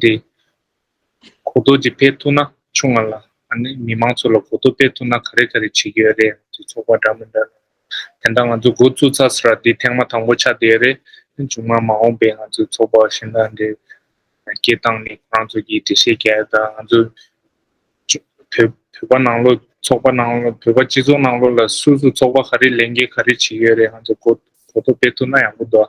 འདི། གོ་རྟོགས་ཀྱིས་སྤེལ་ཐུབ་ན་ཆུང་ང་ལ་མི་མང་ཚོ་ལ་གོ་རྟོགས་སྤེལ་ཐུབ་ན་ག་རེ་ག་རེ་བྱེད་ཀྱི་ཡོད་རེད་ཡང་དེ་ཚོགས་པ་འདྲ་མི་འདྲ་རེད། དེ་འདྲ་ང་ཚོ་འགོ་བཙུགས་ཚར་ས་ར་འདི་ཐེངས་མ་དང་པོ་ཆགས་བསྡད་རེད། ཆུང་མ་མ་འོངས་པའི་ང་ཚོའི་ཚོགས་པ་བཞི་འདྲ་འདྲའི་སྐད་གདངས་ནི་ཁོ་རང་ཚོ་གིས་འགྲེལ་བཤད་བརྒྱ་ཡོད་ད་ང་ཚོ་བོད་པ་ནང་ལོགས་ཚོགས་པ་ནང་ལོགས་བོད་པ་སྤྱི་ཚོགས་ནང་ལོགས་ལ་སུ་སུ་ཚོགས་པ་ག་རེ་ལས་འགན་ག་རེ་བྱེད་ཡོད་རེད་ང་ཚོ་གོ་རྟོགས་སྤེལ་ཐུབ་ན་ཡག་པོ་འདུག་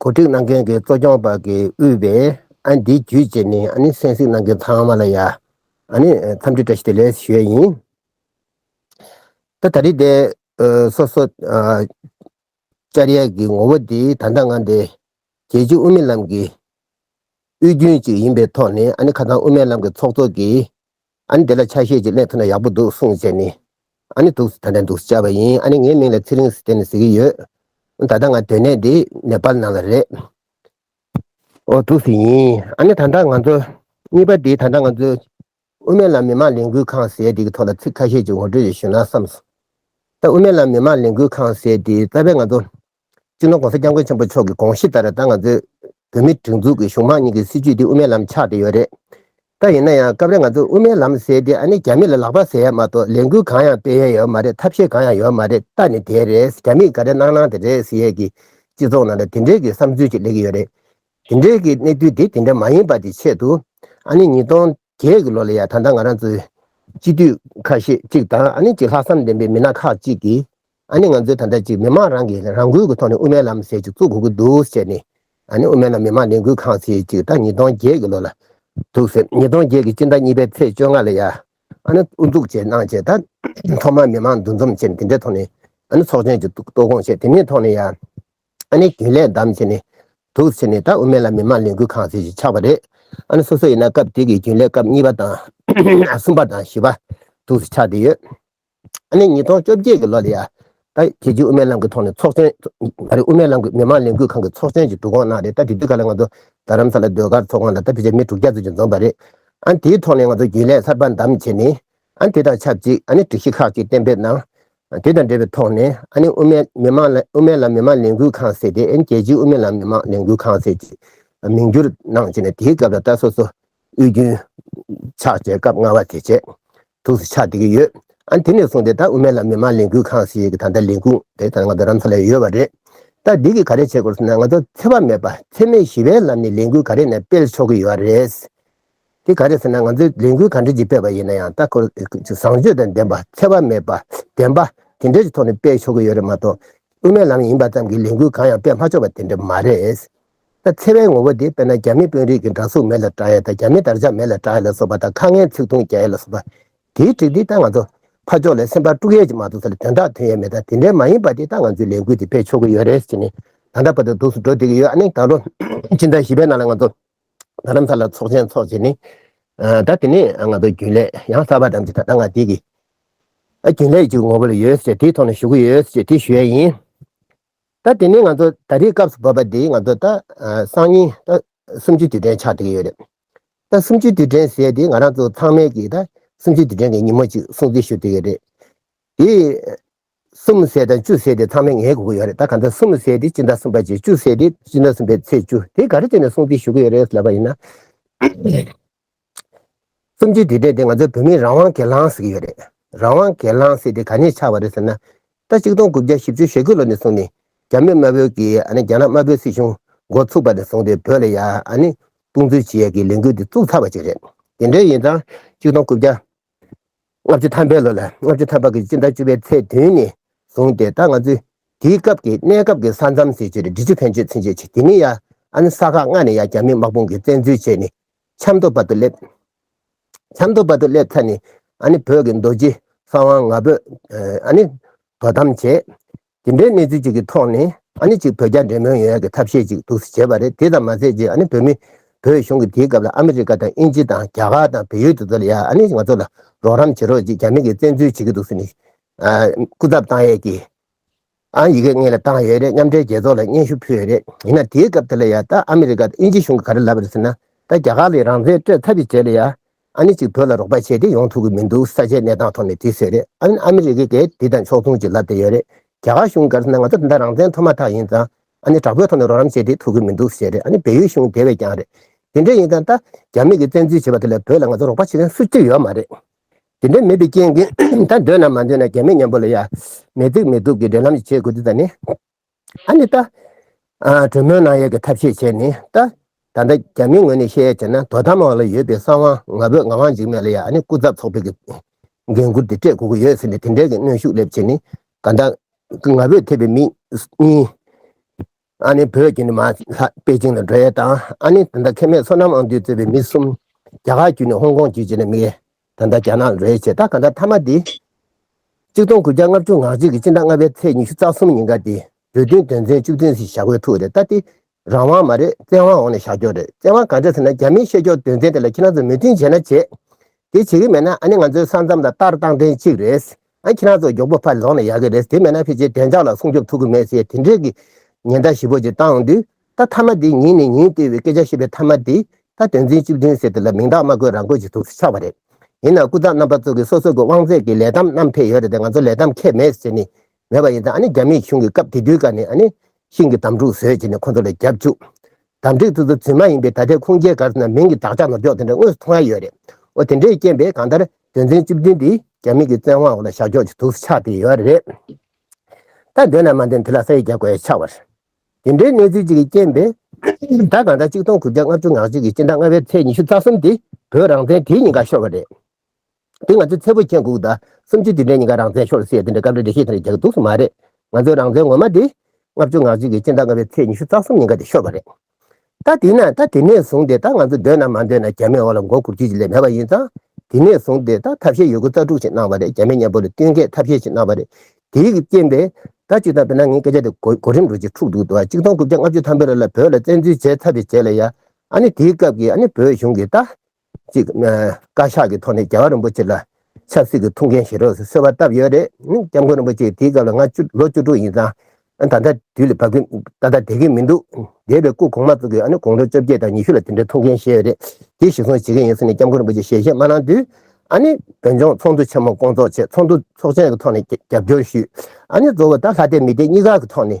གོ་སྒྲིག་གནང་མཁན་གྱི་གཙོ་སྐྱོང་པ་གིས་དབུས་པའི་ཨ་འདི་བརྒྱུད་ཅེས་ནས་ཨ་ནི་གསན་གཟིགས་གནང་མཁན་ཚང་མ་ལ་ཡ་ཨ་ནི་འཚམས་འདྲི་བཀྲ་ཤིས་བདེ་ལེགས་ཞུ་ཡས་ཡིན། ད་ད་རི་དེ་སོ་སོ་ཅར་ཡས་ཀྱི་ངོ་བོ་དེ་ད་ལྟ་ང་འདི་རྒྱལ་སྤྱི་དབུ་མའི་ལམ་གྱི་དབུས་རྒྱུན་ཅིག་ཡིན་པའི་ཐོག་ནས་ཨ་ནི་ཁ་སང་དབུ་མའི་ལམ་གྱི་ཚོགས་གཙོ་གིས་ཨ་ནི་དེ་ལ་ཆ་ཤས་ཀྱི་ཀླད་ཐོན་ན་ཡག་པོ་འདུག་གསུངས་བྱས་ནས། ཨ་ནི་འདུག་ད་ལྟ་འདུག་བྱ་བ་ཡིན་ཨ་ནི་ངའི་མིང་ལ་ཚེ་རིང་ཟེར་ནས་ཟེར་གྱི་ཡོད། ད་ལྟ་ང་དོན་གནས་འདི་ནེ་པཱལ་ནང་ལ་རེད། འོ་འདུག་ཟེར་ཡིན་ཨ་ནི་ད་ལྟ་ང་ཚོ། གཉིས་པ་དེ་ད་ལྟ་ང་ཚོ། དབུ་མའི་ལམ་མི་མང་ལས་འགུལ་ཁང་ཟེར་དེ་གི་ཐོག་ལ་ཚིག་ཁ་ཤས་ཅིག་ངོ་སྤྲོད་ཞུ་ན་བསམས་སོང། ད་དབུ་མའི་ལམ་མི་མང་ལས་འགུལ་ཁང་ཟེར་དེ་རྩ་བའི་ང་ཚོ། སྤྱིར་ན ྋགོང་ས ྋསྐྱབས་མགོན་ཆེན་པོ་མཆོག་གི་དགོངས་གཞི་ལྟར་ད་ང་ཚོའི་བོད་མིའི་སྒྲིག་འཛུགས་ཀྱི་གཞུང་དམངས་གཉིས་ཀྱི་སྲིད་བྱུས་འདི་དབུ་མའི་ལམ་ཆགས་བསྡད་ཡོད་རེད་ད། ཡིན་ན་ཡང་སྐབས་རེ་ང་ཚོས་དབུ་མའི་ལམ་ཟེར་དེ་ཨ་ནི་རྒྱ་མི་ལ་ལག་པ་ཟེར་ཡ་མ་གཏོགས་ལས་འགུལ་གང་ཡང་སྤེལ་ཡ་ཡོད་མ་རེད་ཐབས་ཤེས་གང་ཡང་ཡོད་མ་རེད་ད་ནི་དེ་རེད་རྒྱ་མིས་ག་རེ་གནང་གནང་དེ་རེད་ཟེར་ཡས་ཀྱི་སྤྱི་ཚོགས་ནང་ལ་དེ་འདྲའི་གི་བསམ་ཚུལ་ཅིག་སླེབས་ཀྱི་ཡོད་རེད། དེ་འདྲའི་གི་གནས་ཚུལ་དེ་དེ་འདྲ་མ་ཡིན་པ་དེ་ཆེད་དུ་ཨ་ནི་ཉིས་སྟོང། རྒྱའི་གི་ལོ་ལ་ཡང་ད་ལྟ་ང་རང་ཚོའི་སྤྱི་འཐུས་ཁ་ཤས་གཅིག་དང་ཨ་ནི་གཅིག་ལྷག་བསམ་ལྡན་པའི་མི་སྣ་ཁག་གཅིག་གིས་ཨ་ནི་ང་ཚོའི་ད་ལྟ་གཅིག་མི་མང་རང་གིས་རང་འགུལ་གི་ཐོག་ནས་དབུ་མའི་ལམ་ཟེར་གཅིག་བཙུགས་དགོས་ཀྱི་འདུག་ཟེར་ནས་ཨ་ནི་དབུ་མའི་ལམ་མི་མང་ལས་འགུལ་ཁང་ཟེར་གཅིག་ད་ཉིས་སྟོང་བརྒྱད་གི་ལོ་ལ་འདུག་ཟེར་ཉིས་སྟོང་བརྒྱད་གི་སྤྱི་ཟླ་གཉིས་པའི་ཚེས་བཅོ་ལྔ་ལ་ཡང་ཨ་ནི་དབུ་འཛུགས་བྱས་གནང་བྱས་ད་ཐོག་མར་མི་མང་འདུ་འཛོམས་བྱས་ནས་དེ་འདྲའི་ཐོག་ནས་ཨ་ནི་ཚོགས་ཆེན་གཅིག་གཏོགས་དགོངས་བཞེས་དེ་ནས་ཐོག་ནས་ཡང་ཨ་ནི་རྒྱུན་ལས་བདམས་བྱས་ནས་འདུག་ཚེ་ནི་ད་དབུ་མེད་ལ་མི་མང་ལས་འགུལ་ཁང་ཟེར་ཞིག་ཆགས་པ་རེད། ཨ་ནི་སོ་སོ་ཡིན་ན་སྐབས་དེ་གི་རྒྱུན་ལས་སྐབས་གཉིས་པ་དང། གསུམ་པ་དང་བཞི་པ་འདུག་ཟེར་ཆགས་བསྡད་ཡོད། ཨ་ནི་ཉིས་སྟོང་བཅོ་བརྒྱད་ཀྱི་ལོ་ལ་ཡང་ད་དེ་རྗེས་དབུ་མའི་ལམ་གྱི་ཐོག་ནས་ཚོགས་ཆེན། ད་རེས་དབུ་མའི་ལམ་གྱི་མི་མང་ལས་འགུལ་ཁང་གི་ཚོགས་ཆེན་ཞིག་འདུག་གོང་ན་རེད་ད་དེ་དུས་ག་ལ་ང་ཚོ་རྡ་རམ་ས་ལ་སྡོད་སྒར་ཚོགས་ཁང་ལ་ད་ཕལ་ཆེར་མི་དྲུག་བརྒྱ་ཙམ་ཞིག་འཛོམས་པ་རེད། ཨ་ནི་དེའི་ཐོག་ནས་ང་ཚོ་རྒྱུན་ལས་གསར་པ་བདམས་བྱས་ནས་ཨ་ནི་དེ་དང་ཆབས་ཅིག་ཨ་ནི་སྒྲིག་གཞི་ཁག་ཅིག་གཏན་འབེབས་གནང། དེ་དང་འབྲེལ་བའི་ཐོག་ནས་ཨ་ནི་དབུ་མའི་མི་མང་ལ་དབུ་མའི་ལམ་མི་མང་ལས་འགུལ་ཁང་ཟེར་ཏེ་ཨ་ནི་རྒྱལ་སྤྱིའི་དབུ་མའི་ལམ་མི་མང་ལས་འགུལ་ཁང་ཟེར་ཅེས་མིང་བསྒྱུར་གནང་རྗེས་ནས་དེའི་སྐབས་ད་ལྟ་སོ་སོ་དབུས་རྒྱུན་ཕྱག་བྱས་སྐབས་སྔ་བ་དེ་ཆེད་དུ་སུ་ཕྱག་བསྡད་ཀྱི་ཡོད། ཨ་ནི་དེ་ནས་བཟུང་སྟེ་ད་དབུ་མའི་ལམ་མི་མང་ལས་འགུལ་ཁང་ཞེས་ཀྱི་ད་ལྟ་ལས་ཁུངས་དེ་ད་ང་ཚོ་རང་ཚོ་ལ་ཡོད་པ་རེད། ད་འདི་གིས་ག་རེ་བྱེད་དགོས་ཟེར་ན་ང་ཚོ་འཚེ་བ་མེད་པ་འཚེ་མེད་ཞི་བའི་ལམ་ནས་ལས་འགུལ་ག་རེ་ནས་སྤེལ་ཆོག་གི་ཡོད་རེད། དེ་ག་རེ་ཟེར་ན་ང་ཚོས་ལས་འགུལ་ག་འདྲ་ཞིག་སྤེལ་བ་ཡིན་ན་ཡང་ལྟ་སྐོར་བཟང་སྤྱོད་དང་ལྡན་པ་འཚེ་བ་མེད་པ་བདེན་པ་དེ་འདྲའི་ཐོག་ནས་སྤེལ་ཆོག་གི་ཡོད་རེད་མ་གཏོགས། དབུ་མའི་ལམ་ཡིན་པ་ཙམ་གྱིས་ལས་འགུལ་གང་ཡང་སྤེལ་མ་ཆོག་པ་དེ་འདྲ་མ་རེད། ད་འཚེ་བའི་ངོ་བོ་དེ་དཔེར་ན་རྒྱ་མི་དཔོན་རིགས་ཀྱི་འདྲ་གཟུགས་མེད་ལ་བསྒྲགས་ཡས་དང་རྒྱ་མི་དར་ཆ་མེད་ལ་བསྒྲགས་ཡས་ལ་སོགས་པ་དང་ཁ་ངན་ཚིག་ཐུང་རྒྱག་ཡས་ལ་སོགས་པ། དེའི་གྲིག་འདི་ལྟར་ང་ཚོ་ཕ་ཕྱོགས་ལས་སེམས་པ་དཀྲུག་ཡས་ཀྱི་མ་ཐུག་ས་ལ་དོན་དག་ཐོན་ཡས་མེད་ད་དེ་འདྲའི་མ་ཡིན་པ་དེ་ལྟར་ང་ཚོས་ལས་འགུལ་དེ་སྤེལ་ཆོག་གི་ཡོད་རེད་ཟེར་ནས་ད་འདྲ་བར་དུ་སྡུགས་སུ་འགྲོ་བསྡད་ཀྱི་ཡོད་ཨ་ནི་ད་ལོ་ཕྱི་ཟླ་བཞི་པའི་ནང་ལ་ང་ཚོ་ད་རམ་ས་ལ་ཚོགས་ཆེན་འཚོགས་རྗེས་ནི། ད་དེ་ནས་ང་ཚོ་རྒྱུན་ལས་ཡང་གསར་པ་ཙམ་གྱི་ད་ལྟ་ང་དེ་གི་རྒྱུན་ལས་ཀྱི་ངོ་བོ་ལ་ཡོད་ཟེར་དེའི་ཐོག་ནས་ཞུགས་ཀྱི་ཡོད་ཟེར་དེ་ཞུས་ཡས་ཡིན། ད་དེ་ནས་ང་ཚོ་ད་རེས་སྐབས་སུ་བབས་པ་འདི་ང་ཚོ་ད་སང་ཉིན་ད་གསུམ་བཅུའི་དུས་དྲན་ཆགས་བསྡད་ཀྱི་ཡོད་རེད། ད་གསུམ་བཅུའི་དུས་དྲན་ཟེར་དེ་ང་རང་ཚོ་ཚང་མས་ཀྱི་ད་གསུམ་བཅུའི་དུས་དྲན་གྱི་ཉིན་མོ་ཅིག་སྲུང་བརྩི་ཞུ་བསྡད་ཡོད་རེད། དེ། གསུམ་བསྲེས་དང་བཅུ་བསྲེས་ཏེ་ཚང་མས་ངའི་གོ་གི་ཡོད་རེད་ད་ག་ཚོད་གསུམ་བསྲེས་ཏེ་སྤྱི་ཟླ་གསུམ་པ་བཅས་བཅུ་བསྲེས་ཏེ་སྤྱི་ཟླ་གསུམ་པའི་ཚེས་བཅུ་དེ་ག་རེ་བྱས་ནས་སྲུང་བརྩི་ཞུ་གི་ཡོད་རེད་ལབ་པ་ཡིན་ན། གསུམ་བཅུའི་དུས་དྲན་དེ་ང་ཚོའི་བོད་མིའི་རང་དབང་གི་ལང་ཟེར་གི་ཡོད་རེད་རང་དབང་གི་ལང་བསྲེས་ཏེ་ག་ནས་ཆགས་པ་རེད་ཟེར་ན། ད་གཅིག་སྟོང་དགུ་བརྒྱ་བཞི་བཅུ་ཞེ་དགུ་ལོ་ནས་བཟུང་ནས་རྒྱ་མི་དམར་བོའི་གིས་ཨ་ནི་རྒྱ་ནག་དམར་བོའི་སྲིད་གཞུང་འགོ་ཚུགས་པ་ནས་བཟུང་སྟེ་བོད་ལ་ཡ་ཨ་ནི་སྟོང་ཚུལ་བྱེད་ཡ་གི་ལས་འགུལ་འདི་བཙུགས་ཚར་བ་ཅིག་རེད་དེ་འདྲས་ཡིན་ཙང་གཅིག་སྟོང་དགུ་བརྒྱ། ལྔ་བཅུ་ཐམ་པའི་ལོ་ལ་ལྔ་བཅུ་ཐམ་པ་གྱི་སྤྱི་ཟླ་བཅུ་པའི་ཚེས་བདུན་ནས་བཟུང་སྟེ་ད་ང་ཚོས་དེའི་སྐབས་ཀྱི་གནས་སྐབས་ཀྱི་ས་མཚམས་སྲིད་བྱུས་ལ་འབྲི་ཆུ་ཕན་ཆོད་ཚུན་ཆད་བྱས་དེ་མིན་ཡ་ཨན་ས་ཁག་ལྔ་ནས་ཡང་རྒྱ་མི་དམག་དཔུང་གིས་བཙན་འཛུལ་བྱས་ནས་ཆབ་མདོ་བར་དུ་སླེབས། ཆབ་མདོ་བར་དུ་སླེབས་ཚར་ནས་ཨ་ནི་བོད་ཀྱི་མདོ་སྤྱི་ས་དབང་ང་ཕོད་ཨ་ནི་དོ་དམ་བྱས། དེ་འདྲའི་གནས་ཚུལ་ཅིག་གི་ཐོག་ནས་ཨ་ནི་ཅིག་བོད་རྒྱ་འབྲེལ་མོལ་ཡོང་ཡག་གི་ཐབས་ཤེས་ཅིག་འདུག་ཟེར་བྱས་པ་རེད་དེ་ཙམ་མ་ཟེར་རྗེས་ཨ་ནི་བོད་མི་བོད་གཞུང་གི་དེའི་སྐབས་ལ་ཨ་མི་རི་ཀ་དང་དབྱིན་ཇི་དང་རྒྱ་གར་དང་བལ་ཡུལ་དེ་ཚོ་ལ་ཡ་ཨ་ནི་ང་ཚོ་ལ་རོགས་རམ་བྱེད་རོགས་ཅིག་རྒྱ་མི་གིས་བཙན་འཛུལ་བྱེད་ཀྱི་འདུག་ཟེར་ནས་སྐུ་ཚབ་བཏང་ཡས་ཀྱི་ཨ་ཡི་གེ་ངེད་ལ་བཏང་ཡོད་རེད་མཉམ་འབྲེལ་རྒྱལ་ཚོགས་ལ་སྙན་ཞུ་ཕུལ་ཡོད་རེད་ཡིན་ན་དེའི་སྐབས་དེ་ལ་ཡ་ད་ཨ་མི་རི་ཀ་དང་དབྱིན་ཇི་གཞུང་གིས་ག་རེ་ལབ་པ་རེད་ཟེར་ན་ད་རྒྱ་གར་ལས་རང་བཙན་སྤྲོད་ཐབས་ཅིག་བྱས་ལ་ཡ་ཨ་ནེ་ཅིག་བོད་ལ་རོགས་པ་བྱས་ཏེ་ཡོང་ཐུབ་ཀྱི་མི་འདུག་ས་ཆའི་གནས་སྟངས་ཐོག་ནས་དེ་བཟོས་རེད་ཨ་ཨ་མི་རི་ཀས་དེ་དང་ཕྱོགས་མཚུངས་ཀྱི་ལབ་བསྡད་ཡོད་རེད་རྒྱ་གར་གཞུང་སྒེར་ས་ནས་ང་ཚོར་འདི་འདྲ་རང་བཙན་ཐོབ་མ་ཐག་ཡིན་ཙང་ཨ་ནེ་དྲག་པོའི་ཐོག་ནས་རོགས་རམ་བྱས་ཏེ་ཐུབ་ཀྱི་མི་འདུག་ཟེར་རེད་ཨ་ནེ་བལ་ཡུལ་གཞུང་དེ་བས་ཀྱང་རེད་དེ་འདྲ་ཡིན་ཙང་ད་རྒྱ་མི་གིས་བཙན་འཛུལ་བྱས་པ་དེ་ལས་བོད་ལ་ང་ཚོར་རོགས་པ་བྱེད་མཁན་སུ་གཅིག་ཡོད་མ་རེད་དེ་འདྲ་མེད་པའི་རྐྱེན་གྱིས་ད་འདོད་ན་མ་འདོད་ན་རྒྱ་མི་མཉམ་པོ་ལ་ཡ་མེད་རྩིག་མེད་དུག་གི་འབྲེལ་ལམ་ཞིག་བྱེད་དགོས་རྒྱུ་ད་ནི། ཨ་ནི་ཏཱ། གྲོས་མོལ་གནང་ཡས་ཀྱི་ཐབས་ཤེས་བྱས་ནི་ཏཱ། ད་ལྟ་རྒྱ་མིའི་ངོས་ནས་ཤེས་ཡས་བྱས་ན་དོ་དམ་འོག་ལ་ཡོད་པའི་ས་དབང་ང་བོད་ང་དབང་འཇིག་མེད་ལ་ཡ་ཨ་ནི་སྐུ་ཚབ་ཚོགས་པའི་གི་འགན་ཁུར་དེ་སྤྲད་དགོས་ཀྱི་ཡོད་ཟེར་ནས་དེ་འབྲེལ་གྱི་གནོན་ཤུགས་སླེབས་བྱས་ནི་ག་ད། ང་བོད་ཐེ་བའི་མིག་གཉིས། ཨ་ནི་བོད་བརྒྱུད་ནི་མ་ལྷ་པེ་ཅིང་ལ་འགྲོ་ཡས་དང་ཨ་ནི་ད་ད་ཁེ་མེད་སོ་ནམ་ཨང་དུས་གཙོས་པའི་མི་གསུམ། རྒྱ་གར་བརྒྱུད་ནི་ཧོང་ཀོང་བརྒྱུད་བྱས་ནས་མི། ད་ལྟ་རྒྱ་ནག་རེད་ཅེས་ད་ག་ཟླ་མཐའ་མ་འདི། གཅིག་སྟོང་དགུ་བརྒྱ་ལྔ་བཅུ་ང་གཅིག་གི་སྤྱི་ཟླ་ལྔ་པའི་ཚེས་ཉི་ཤུ་རྩ་གསུམ་ཉིན་ག་དེ་བོད་བསྟུན་དོན་ཚན་བཅུ་བདུན་ཞིག་བཞག་དགོས་ཐུག་རེད་ད་དེ་རང་དབང་མ་རེད་བཙན་དབང་འོག་ནས་བཞག་རྒྱུ་རེད་བཙན་དབང་ག་འདྲ་ཟེར་ན་རྒྱ་མིའི་བཤད་ཕྱོགས་དོན་ཚན་དེ་ལ་ཁྱེད་རང་ཚོས་མོས་མཐུན་བྱེད་ན་བྱེད། དེ་བྱེད་གི་མེད་ན་ཨ་ནི་ང་ཚོའི་ས་མཚམས་ལ་ལྟར་བཏང་ཐེངས་གཅིག་རེད་ཨ་ཁྱེད་རང་ཚོ་མགྱོགས་པོ་ཕར་ལོག་ན་ཡག་གི་རེད་དེ་མེད་ན་ཕལ་ཆེར་བདེ་འཇགས་ལ་སྲུང་སྐྱོབ་ཐུབ་གི་མེད་ཟེར་དེ་འདྲའི་གི་ཉེན་བརྡ་ཞིབ་པོ་ཅིག་བཏང་འོང་དུས་ད་ཐ་མ་དེ་ཉིད་ནས་ཉིད་ལྟོས་བའི་སྐད་ཆ་བཤད་པའི་ཐ་མ་དེ་ད་དོན་ཚན་བཅུ་བདུན་ཟེར་དེ་ལ་མིང་རྟགས་མ་བཀོད་རང་བཀོད་ཅིག་ཐུགས་སུ་ཆགས་པ་རེད། ཡིན་ནའང་སྐུ་ཚབ་རྣམ་པ་ཚོ་གི་སོ་སོ་གི་དབང་ཚད་ཀྱི་ལས་གཏམ་རྣམས་ཕེབས་ཡོད་རེད་དེ་ང་ཚོ་ལས་གཏམ་ཁྱད་མེད་ཟེར་ནས་མེད་པ་ཡིན་ད་ཨ་ནི་རྒྱ་མི་གཞུང་གི་སྐབས་དེ་དུས་ཀ་ནས་ཨ་ནི་ཤིང་གི་དམ་ཕྲུག་ཟོས་ཅེས་ནས་ཁོ་ཚོ་ལ་རྒྱབ་བཅུག་དམ་ཁྲིག་ཚུ་ཚུ་ཚུད་མ་ཡིན་པའི་ད་ལྟའི་ཁུངས་སྐྱེལ་གར་སོང་ན་མིང་གི་དག་ཆ་ནོར་འཇོག་དེ་འདྲ་དངོས་སུ་མཐོང་ཡ་ཡོད་རེད་འོ་དེ་འདྲའི་རྐྱེན་པས་གང་ལྟར་དོན་ཚན་བཅུ་བདུན་དེ་རྒྱ་མི་གི་བཙན་དབང་འོག་ལ་བཞག་འཇོག་ཅིག་ཐུགས་སུ་ཆགས་བསྡད་ཡོད་རེད། ད་འདོད་ན་མ་འདོད་ན་དེ་ལ་ས་ཡིག་རྒྱག་དགོས་ཆགས་པ་དེ་འདྲའི་གནས་ཚུལ་གཅིག་གིས་རྐྱེན་པས། ཟླ་གང་ཟླ་གཅིག་སྟོང་དགུ་བརྒྱ་ལྔ་བཅུ་ང་གཅིག་གི་སྤྱི་ཟླ་ལྔ་བའི་ཚེས་ཉི་ཤུ་རྩ་གསུམ་དེ་བོད་རང་བཙན་དེའི་ཉིན་ཁ་ཤོར་བ་རེད། དེ་ང་ཚོའི་ཚེ་བོད་ཆེན་དགུ་ཟླ་སུམ་ཅུ་དེ་འདྲའི་ཉིན་ཁ་རང་བཙན་ཤོར་སའི་དེ་འདྲའི་སྐབས་རེ་འགྲེལ་བཤད་དེ་འདྲ་རྒྱག་འདུག་སུ་མ་རེད། ང་ཚོའི་རང་བཙན་ངོ་མ་དེ། ལྔ་བཅུ་ང་གཅིག་གི་སྤྱི་ཟླ་ལྔ་བའི་ཚེས་ཉི་ཤུ་རྩ་གསུམ་ཉིན་ཁ་དེ་ཤོར་བ་རེད། ད་དེས་ན་ད་དེ་ནས་བཟུང་སྟེ་ད་ང་ཚོ་འདོད་ན་མ་འདོད་ན་རྒྱ་མའི་འོག་ལ་མགོ་འཁོར་རྒྱུ་ཅི་ལས་མེད་པ་ཡིན་ཙང། དེ་ནས་བཟུང་སྟེ་ད་ཐབས་ཤེས་ཡོད་རྒུ་རྩ་དཀྲུག་ཅིག་གནང་བ་རེད་རྒྱ་མའི་གཉེན་པོ་ལ་བསྟུན་མཁས་ཐབས་ཤེས་ཅིག་གནང་བ་རེད། དེའི་རྐྱེན་པས། ད་བཅུ་དང་བོད་ནང་ངའི་སྐད་ཆ་དེ་གོ་རིམ་རོ་གཅིག་འཁྲུགས་འདུག་ཏུ་ཨ་གཅིག་སྟོང་དགུ་བརྒྱ་ལྔ་བཅུ་ཐམ་པོའི་ར་ལ་བོད་ལ་བཙན་འཛུལ་བྱས་ཚར་རེ་བྱས་ལ་ཡ། ཨ་ནི་དེའི་སྐབས་ཀྱི་ཨ་ནི་བོད་གཞུང་གིས་ད། གཅིག། བཀའ་ཤག་གི་ཐོག་ནས་རྒྱལ་བ་རིན་པོ་ཆེ་ལ་ཆབ་སྲིད་ཀྱི་ཐུགས་འགན་བཞེས་རོགས་ཟེར་གསོལ་བ་བཏབ་ཡོད་རེད། སྐྱབས་མགོན་རིན་པོ་ཆེ་དེའི་སྐབས་ལ་ང་ལོ་བཅུ་དྲུག་ཡིན་ཙང། ད་ལྟ་དུས་ལ་བབ་གིན་ད་ལྟ་བསྡད་གིན་མི་འདུག་འདས་པའི་སྐུ་གོང་མ་གཙོས་ཀྱི་དགོང་དྲོ་བཅོ་བརྒྱད་དང་ཉི་ཤུ་ལ་དེ་འདྲའི་ཐུགས་འགན་བཞེས་ཡོད་རེད། དེ་གཞི་བཟུང་བྱེད་གིན་ཡིན་ཟེར་ནས་སྐྱབས་མགོན་རིན་པོ་ཆེ་ཞལ་བཞེས་མ་གནང་དུས། བོད་ལྗོངས་ཚོགས་འདུ་ཆེན་མོ་སྐོང་ཚོགས་ཆེད་ཚོགས་འདུ་ཚོགས་ཆེན་གྱི་ཐོག་ནས་རྒྱབ་སྐྱོར་ཞུས། གཙོ་བོ་ད་ལྷ་སྡེ་མི་སྡེ་གཉིས་ཀ་གི་ཐོག་ནས་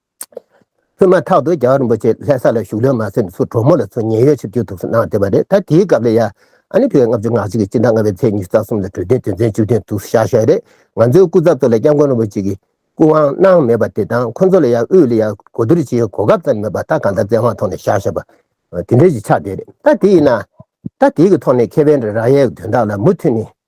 སྔོན་མ་ཐག་ཏུ་རྒྱ་གར་རིན་པོ་ཆེ་ལྷས་ས་ལ་བཞུགས་ལོན་མ་ཟིན་དུ་སུ་གྲོགས་མོ་ལ་ཚུར་ཉེན་གཡོལ་ཕྱིར་བསྐྱོད་ཐུབ་ས་གནང་བསྡད་པ་རེད་ད་དེའི་སྐབས་ལ་ཡ་ཨ་ནི་བོད་ལྔ་བཅུ་ང་གཅིག་གི་སྤྱི་ཟླ་ལྔ་བའི་ཚེས་ཉི་ཤུ་རྩ་གསུམ་ལ་གྲོས་མཐུན་དོན་ཚན་བཅུ་བདུན་དུ་བཞག་ཞོར་རེད་ང་ཚོའི་སྐུ་ཚབ་ཚོ་ལ་སྐྱབས་མགོན་རིན་པོ་ཆེ་གིས་སྐུ་དབང་གནང་མེད་པ་དེ་དང་ཁོ་ཚོ་ལ་ཡ་དབུས་ལ་ཡ་གོ་བསྡུར་བྱེད་ཡའི་གོ་སྐབས་ཙམ་མེད་པ་ད་གང་ལྟར་བཙན་དབང་ཐོག་ནས་བཞག་ཞེས་པ་དེ་འདྲའི་ཞིག་ཆགས་བསྡད་རེད་ད་དེ་ཡིན་ན། ད་དེའི་གི་ཐོག་ནས་ཁེ་བན་རེ་ར་ཡའི་དོན་དག་ལ་མུ་མཐུད་ནས་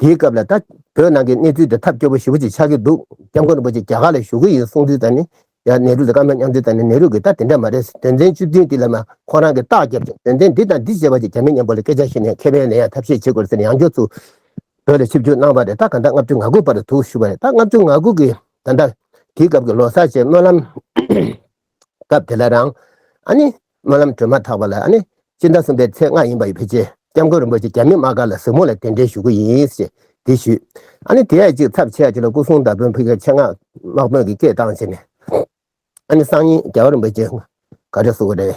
དེའི་སྐབས་ལ་ད་བོད་ནང་གི་གནས་ཚུལ་དེ་ཐབས་སྐྱོ་པོ་ཞེ་བོ་ཅིག་ཆགས་ཀྱི་འདུག་སྐྱབས་མགོན་རིན་པོ་ཆེ་རྒྱ་གར་ལ་བཞུགས་ཀྱི་ཡོད་གསུང་དུས་ད་ནི་ཡང་ནེ་རུ་དང་སྐར་མ་མཉམ་དུས་ད་ནི་ནེ་རུ་གྱིས་ད་དེ་འདྲ་མ་རེད་དོན་ཚན་བཅུ་བདུན་དེ་ལ་མ་ཁོང་རང་གིས་རྟགས་བརྒྱབ་ཅིང་དོན་ཚན་འདི་དང་འདི་ཞེས་པ་ཅིག་གྱ་མི་སྙམ་པོ་ལ་སྐད་ཆ་བཤད་ནས་མཁས་པའི་ལས་ཡང་ཐབས་ཤེས་བྱེད་དགོས་ཟེར་ནས་ཡང་མགྱོགས་ཚུལ་བོད་ལ་ཆིབས་བསྒྱུར་གནང་བ་རེད་ད་ག་འདྲ་ལྔ་བཅུ་ང་དགུ་བར་དུ་བཞུགས་པ་རེད་ད་ལྔ་བཅུ་ང་དགུ་གི་ད་ད་དེའི་སྐབས་ཀྱི་ལོ་སར་ཆེད་སྨོན་ལམ། སྐབས་དེ་ལ་རང། ཨ་ནི། སྨོན་ལམ་གྲོལ་མ་ཐག་པ་ལ་ཨ་ནི། སྤྱིར་ཟླ་གསུམ་པའི་ཚེས་ལྔ་ཡིན་པ་ཡི་བེ་ཅའི་སྐྱབས་མགོན་རིན་པོ་ཆེ་རྒྱ་མི་དམག་སྒར་ལ་གཟིགས་མོ་ལ་གདན་འདྲེན་ཞུ་གི་ཡིན་ཞེས་འདྲི་ཞུས། ཨ་ནི་དེའི་ཅིག་ཚབ་ཆེ་ཡ་ཅིག་ལ་སྐུ་གསུང་ཟླ་དཔོན་ཕུད་ཀྱི་ཆེ་མངགས་དམག་དཔོན་གྱི་སྐད་བཏང་བྱས་ནས། ཨ་ནི་སང་ཉིན་རྒྱལ་བ་རིན་པོ་ཆེ་ག་རེ་གསུང་གི་རེད།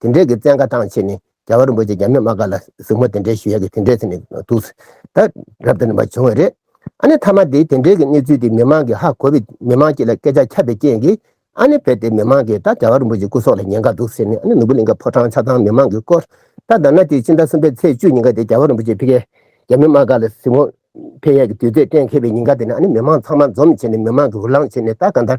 དེ་འདྲའི་གི་བཙན་བཀའ་ཐང་ཆེ་ནི་རྒྱ་གར་རིན་པོ་ཆེ་རྒྱ་མི་དམག་བཀའ་ལ་གཟིགས་མོ་དེ་འདྲའི་ཞུ་ཡ་གི་དེ་འདྲའི་ཚེ་ནི་འདུག་ཟེར་ད་རབ་དེ་ནི་མ་བྱུང་བ་རེད་ཨ་ནི་མཐའ་མ་དེ་དེ་འདྲའི་གི་གནས་ཚུལ་དེ་མི་མང་གི་ཧ་གོ་བའི་མི་མང་སྤྱི་ལ་སྐད་ཆ་ཁྱབ་པའི་རྐྱེན་གི་ཨ་ནི་བས་དེ་མི་མང་གི་ད་རྒྱ་གར་རིན་པོ་ཆེ་སྐུ་སྲོག་ལ་ཉེན་ཁ་འདུག་ཟེར་ནི་ཨ་ནི་ནུ་བོ་གླིང་ག་ཕོ་བྲང་ཆ་ཚང་མི་མང་གི་སྐོར་ད་ད་ན་དེ་སྤྱི་ཟླ་གསུམ་པའི་ཚེས་བཅུ་ཉིན་ག་དེ་རྒྱ་གར་རིན་པོ་ཆེ་ཕི་ཀའི་རྒྱ་མི་དམག་བཀའ་ལ་གཟིགས་མོ་ཕེ་ཡ་གི་དུས་ཚོད་གཏན་འཁེལ་བའི་ཉིན་ག་དེ་ནི་ཨ་ནི་མི་མང་ཚང་མ་འཛོམས་བྱས་ནི་མི་མང་གི་འུར་ལང་བྱས་ནི་ད་ག་འདར།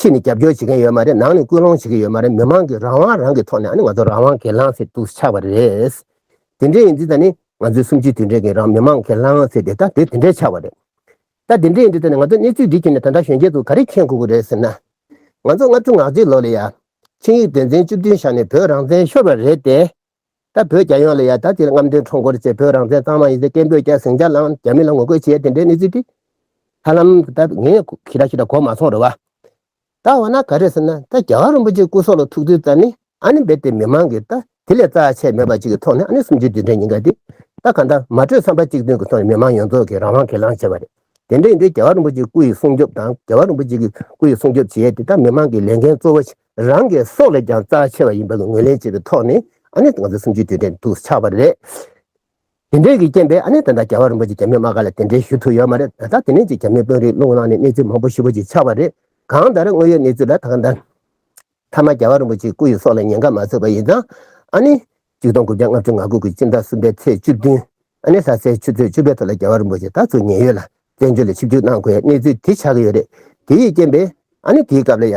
ཕྱི་ནས་རྒྱབ་སྐྱོར་བྱེད་མཁན་ཡོད་མ་རེད་ནང་ནས་སྐུལ་སློང་བྱེད་མཁན་ཡོད་མ་རེད་མི་མང་གི་རང་དབང་རང་གིས་ཐོག་ནས་ཨ་ནི་ང་ཚོ་རང་དབང་གི་ལྷང་ཚེ་དུ་ཆགས་པ་རེད། དེ་འདྲས་ཡིན་དུས་ད་ནི་ང་ཚོའི་གསུམ་བཅུའི་དུས་འདྲས་ཀྱི་རང་མི་མང་གི་ལྷང་ཚེ་དེ་ད་དུས་དེ་འདྲས་ཆགས་པ་རེད། ད་དེ་འདྲས་ཡིན་དུས་ད་ནི་ང་ཚོ་གནས་ཚུལ་འདི་ཁྱེར་ནས་ད་ལྟ་གཞོན་སྐྱེས་ཚོ་ག་རེ་མཁྱེན་དགོས་ཀྱི་རེད་ཟེར་ན། ང་ཚོ་ལྔ་བཅུ་ང་གཅིག་ལོ་ལ་ཡ། ཆིངས་ཡིག་དོན་ཚན་བཅུ་བདུན་བཞག་ནས་བོད་རང་བཙན་ཤོར་བ་རེད་དེ། ད་བོད་རྒྱལ་ཡོངས་ལ་ཡང་ད་ལྟའི་རྔམ་སྟོན་ཁྲོམ་སྐོར་ཆེད་བོད་རང་བཙན་གཙང་མ་ཡིན་ཚེ་སྐད་འབོད་རྒྱག་ཟིང་ཆ་ལའང་རྒྱ་མི་ལ་ངོ་རྒོལ་བྱེད་དེ་འདྲའི་གནས་ཚུལ་དེ། ཧ་ལམ་ད་ངས་ཁྱེད་ལ་ཤི་དྲག་གོ་མ་སོང་རེད་བ། ད་འོ་ན་ག་རེད་ཟེར་ན་ད་རྒྱ་གར་རིན་པོ་ཆེ་སྐུ་སྲོག་ལ་ཐུག་དུས་ད་ནི་ཨ་ནི་རྦད་དེ་མི་མང་གིས་ད་དེ་ལས་རྩ་ཆེ་མེད་པ་ཅིག་གི་ཐོག་ནས་ཨ་ནི་སུམ་ཅུ་དུས་དྲན་ཉིན་འགའ་དེ་ད་གང་ལྟར་མ་གྲོས་བསམ་པ་གཅིག་མཐུན་གྱི་ཐོག་ནས་མི་མང་ཡོངས་རྫོགས་ཀྱིས་རང་དབང་གིས་ལངས་བྱས་པ་རེད། དེ་འདྲ་ཡིན་དུས་རྒྱལ་བ་རིན་པོ་ཆེའི་སྐུ་ཡི་སྲུང་སྐྱོབ་དང་རྒྱལ་བ་རིན་པོ་ཆེ་གི་སྐུ་ཡི་སྲུང་སྐྱོབ་བྱེད་དེ་ད་མི་མང་གི་ལས་འགན་གཙོ་བོ་རང་གི་སྲོག་ལས་ཀྱང་རྩ་ཆེ་བ་ཡིན་པར་ངོས་ལེན་བྱས་པའི་ཐོག་ནས་ཨ་ནེ་ང་ཚོ་སུམ་ཅུའི་དུས་དྲན་དུ་ཆགས་པ་རེད། དེ་འབྲེལ་གྱི་རྐྱེན་པས་ཨ་ནེ་དང་དང་ག་བ་རིན་པོ་ཆེ་རྒྱ་མི་དམག་ཁ་ལ་གདན་འདྲེན་ཞུ་ཐུབ་ཡོད་མ་རེད་ད་ལྟ་དེ་ནས་ཀྱི་རྒྱ་མི་དཔོན་རིགས་བློ་ངོ་ནང་ནས་གནས་ཚུལ་མང་པོ་ཞིབ་པོ་ཅིག་ཆགས་པ་རེད། གང་ལྟར་དངོས་ཡོད་གནས་ཚུལ་ལ་དང་ཐ་མ་རྒྱ་བ་རིན་པོ་ཆེའི་སྐུ་ཡི་སྲོག་ལ་ཉེན་ཁ་མ་བཟོས་པ་ཡིན་ཙང་ཨ་ནེ། གཅིག་སྟོང་དགུ་བརྒྱ་ལྔ་བཅུ་ང་དགུ་དགུ་སྤྱི་ཟླ་གསུམ་པའི་ཚེས་བཅུ་བདུན་ཨ་ནེ་ས་སའི་ཆུ་ཚོད་བཅུ་པའི་ཐོག་ལ་རྒྱ་བ་རིན་པོ་ཆེ་ད་གཟོད་ཉེན་ཡོད་ལ་བཙན་བྱོལ་ལ་ཆིབས་བསྒྱུར་གནང་དགོས་ཡའི་གནས་ཚུལ་དེ་ཆགས་ཀྱི་ཡོད་རེད། དེ་ཡི་རྐྱེན་པས་ཨ་ནེ་དེའི་སྐབས་ལ་ཡ།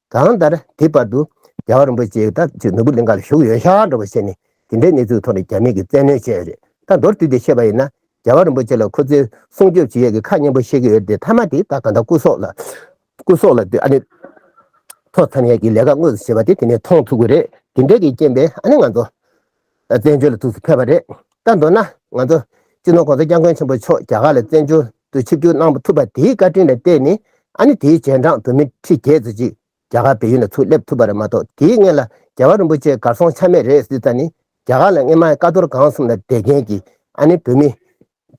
གང་ལྟར་དེའི་བར་དུ་རྒྱལ་བ་རིན་པོ་ཆེའི་ད་ཅི་ནོར་བུ་ལིང་ག་ལ་བཞུགས་ཡོད་ཤག་འགྲོ་བ་བྱས་ནས་དེ་འདྲའི་གནས་ཚུལ་ཐོག་ནས་རྒྱ་མིས་ཀྱི་བཙན་གནོན་བྱས་ཡོད་རེད་ད་མདོར་བསྡུས་ཏེ་བཤད་པ་ཡིན་ན་རྒྱལ་བ་རིན་པོ་ཆེ་ལ་ཁོ་ཚོས་སྲུང་སྐྱོབ་བྱེད་ཡས་ཀྱི་ཁ་སྙན་པོ་བཤད་ཀྱི་ཡོད་རེད་དེ་མཐའ་མ་དེ་ད་གང་ལྟར་སྐུ་སྲོག་ལ་སྐུ་སྲོག་ལ་དུས་ཨ་ནི་ཐོག་མཚམས་ཡས་ཀྱི་ལས་ཀ་དངོས་སུ་བྱེད་པ་དེ་དེ་ནས་མཐོང་ཐུབ་ཀྱི་རེད་དེ་འདྲས་ཀྱི་རྐྱེན་པས་ཨ་ནི་ང་ཚོ། བཙན་བྱོལ་ལ་ཐུགས་སུ་ཕེབས་པ་རེད། ད་མདོར་ན་ང་ཚོ་སྤྱི་ནོར ྋགོང་ས ྋསྐྱབས་མགོན་ཆེན་པོ་མཆོག་རྒྱ་གར་ལ་བཙན་བྱོལ་དུ་ཆིབས་བསྒྱུར་གནང་ཐུབ་པ་དེའི་བཀའ་དྲིན་ལ་བརྟེན་ནས་ཨ་ནི་དེའི་རྗེས་འབྲངས་བོད་མི་ཁྲི་བརྒྱད་ཙོ་ཅིག་རྒྱ་གར་བལ་ཡུལ་ན་ཚུར་སླེབས་ཐུབ་པ་རེད་མ་གཏོགས་དེའི་སྔན་ལ་རྒྱལ་བ་རིན་པོ་ཆེ་གར་སོང་ཆ་མེད་རེད་ཟེར་ཙང་ནི་རྒྱ་གར་ལ་སྔན་མ་ཀ་རྡོར་སྒང་གསུམ་ལ་བསྡད་མཁན་གྱི་ཨ་ནི་བོད་མི་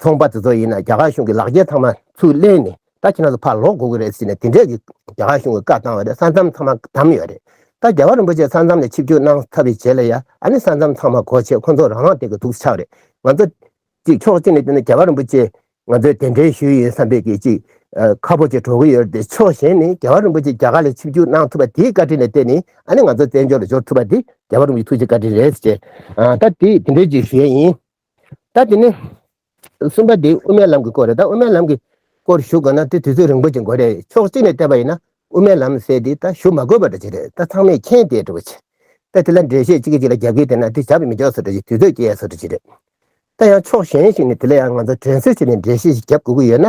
ཚོང་པ་དེ་ཚོ་ཡིན་ན་རྒྱ་གར་གཞུང་གི་ལག་འཁྱེར་ཚང་མ་ཚུར་གླན་ནས་ད་ཁྱེད་རང་ཚོ་ཕར་ལོག་དགོས་ཀྱི་རེད་ཟེར་ནས་དེ་འདྲས་ཀྱི་རྒྱ་གར་གཞུང་གི་བཀའ་བཏང་བ་རེད་ས་མཚམས་ཚང་མ་བསྡམས་ཡོད་རེད་ད་རྒྱ་གར་རིན་པོ་ཆེ་ས་མཚམས་ལས་ཆིབས་བསྒྱུར་གནང་ཐབས་རེ་བྱེད་ལ་ཡ་ཨ་ནི་ས་མཚམས་ཚང་མ་གོ་ཆེད་ཁོ་ཚོ་རང་རང་སྟེང་གི་དུག་ཆགས་རེད་ང་ཚོ། གཅིག་ཕྱོགས་གཅིག་ནས་བལྟས་ན་རྒྱ་གར་རིན་པོ་ཆེ་ང་ཚོའི་དེ་འདྲའི་ཞུ་ཡི་ཡིན་བསམ་པའི་གི་ཅིག་ཁ་ཕོ་ཅིག་གྲོག་གི་ཡོད་རེད་དེ་ཕྱོགས་གཞན་ནས་རྒྱ་གར་རིན་པོ་ཆེ་རྒྱ་གར་ལས་ཆིབས་བསྒྱུར་གནང་ཐུབ་པ་དེའི་བཀའ་དྲིན་ལས་བལྟས་ནས་ཨ་ནི་ང་ཚོ་བཙན་བྱོལ་ལ་འབྱོར་ཐུབ་པ་དེ་རྒྱ་གར་རིན་པོ་ཆེ་ཐུགས་རྗེ་བཀའ་དྲིན་རེད་ཟེར་ད་དེ་དེ་འདྲས་ཀྱི་ཞུ་ཡ་ཡིན་ད་དེ་ནི་གསུམ་པ་དེ་དབུ་མའི་ལམ་གྱི་སྐོར་རེད་ད་དབུ་མའི་ལམ་གྱི་སྐོར་ཞུ་དགོས་ན་དེ་དུས་ཚོད་རིང་པོ་ཅིག་དགོས་རེད་ཕྱོགས་གཅིག་ནས་བལྟས་པ་ཡིན་ན་དབུ་མའི་ལམ་ཟེར་དེ་ད་ཞུ་མ་དགོས་པ་འདྲ་ཅིག་རེད་ད་ཚང་མས་མཁྱེན་བསྡད་འདྲ་བོ་ཆེ་ད་དེ་ལ་འགྲེལ་བཤད་གཅིག་གིས་གཅིག་ལ་རྒྱབ་ཀྱིས་བལྟས་ན་དེ་བྱ་བའི་མི་འཇོག་ས་འདྲ་ཅིག་དུས་ཚོད་སྐྱེལ་ཡ་ས་འདྲ་ཅིག་རེད་ད་ཡང་ཕྱོགས་གཞན་ཞིག་ནས་དེ་ལ་ཡང་ང་ཚོ་དྲན་གསོའི་ཆེད་ནས་འགྲེལ་བཤད་ཞིག་རྒྱབ་དགོས་ཀྱི་ཡོད་ན་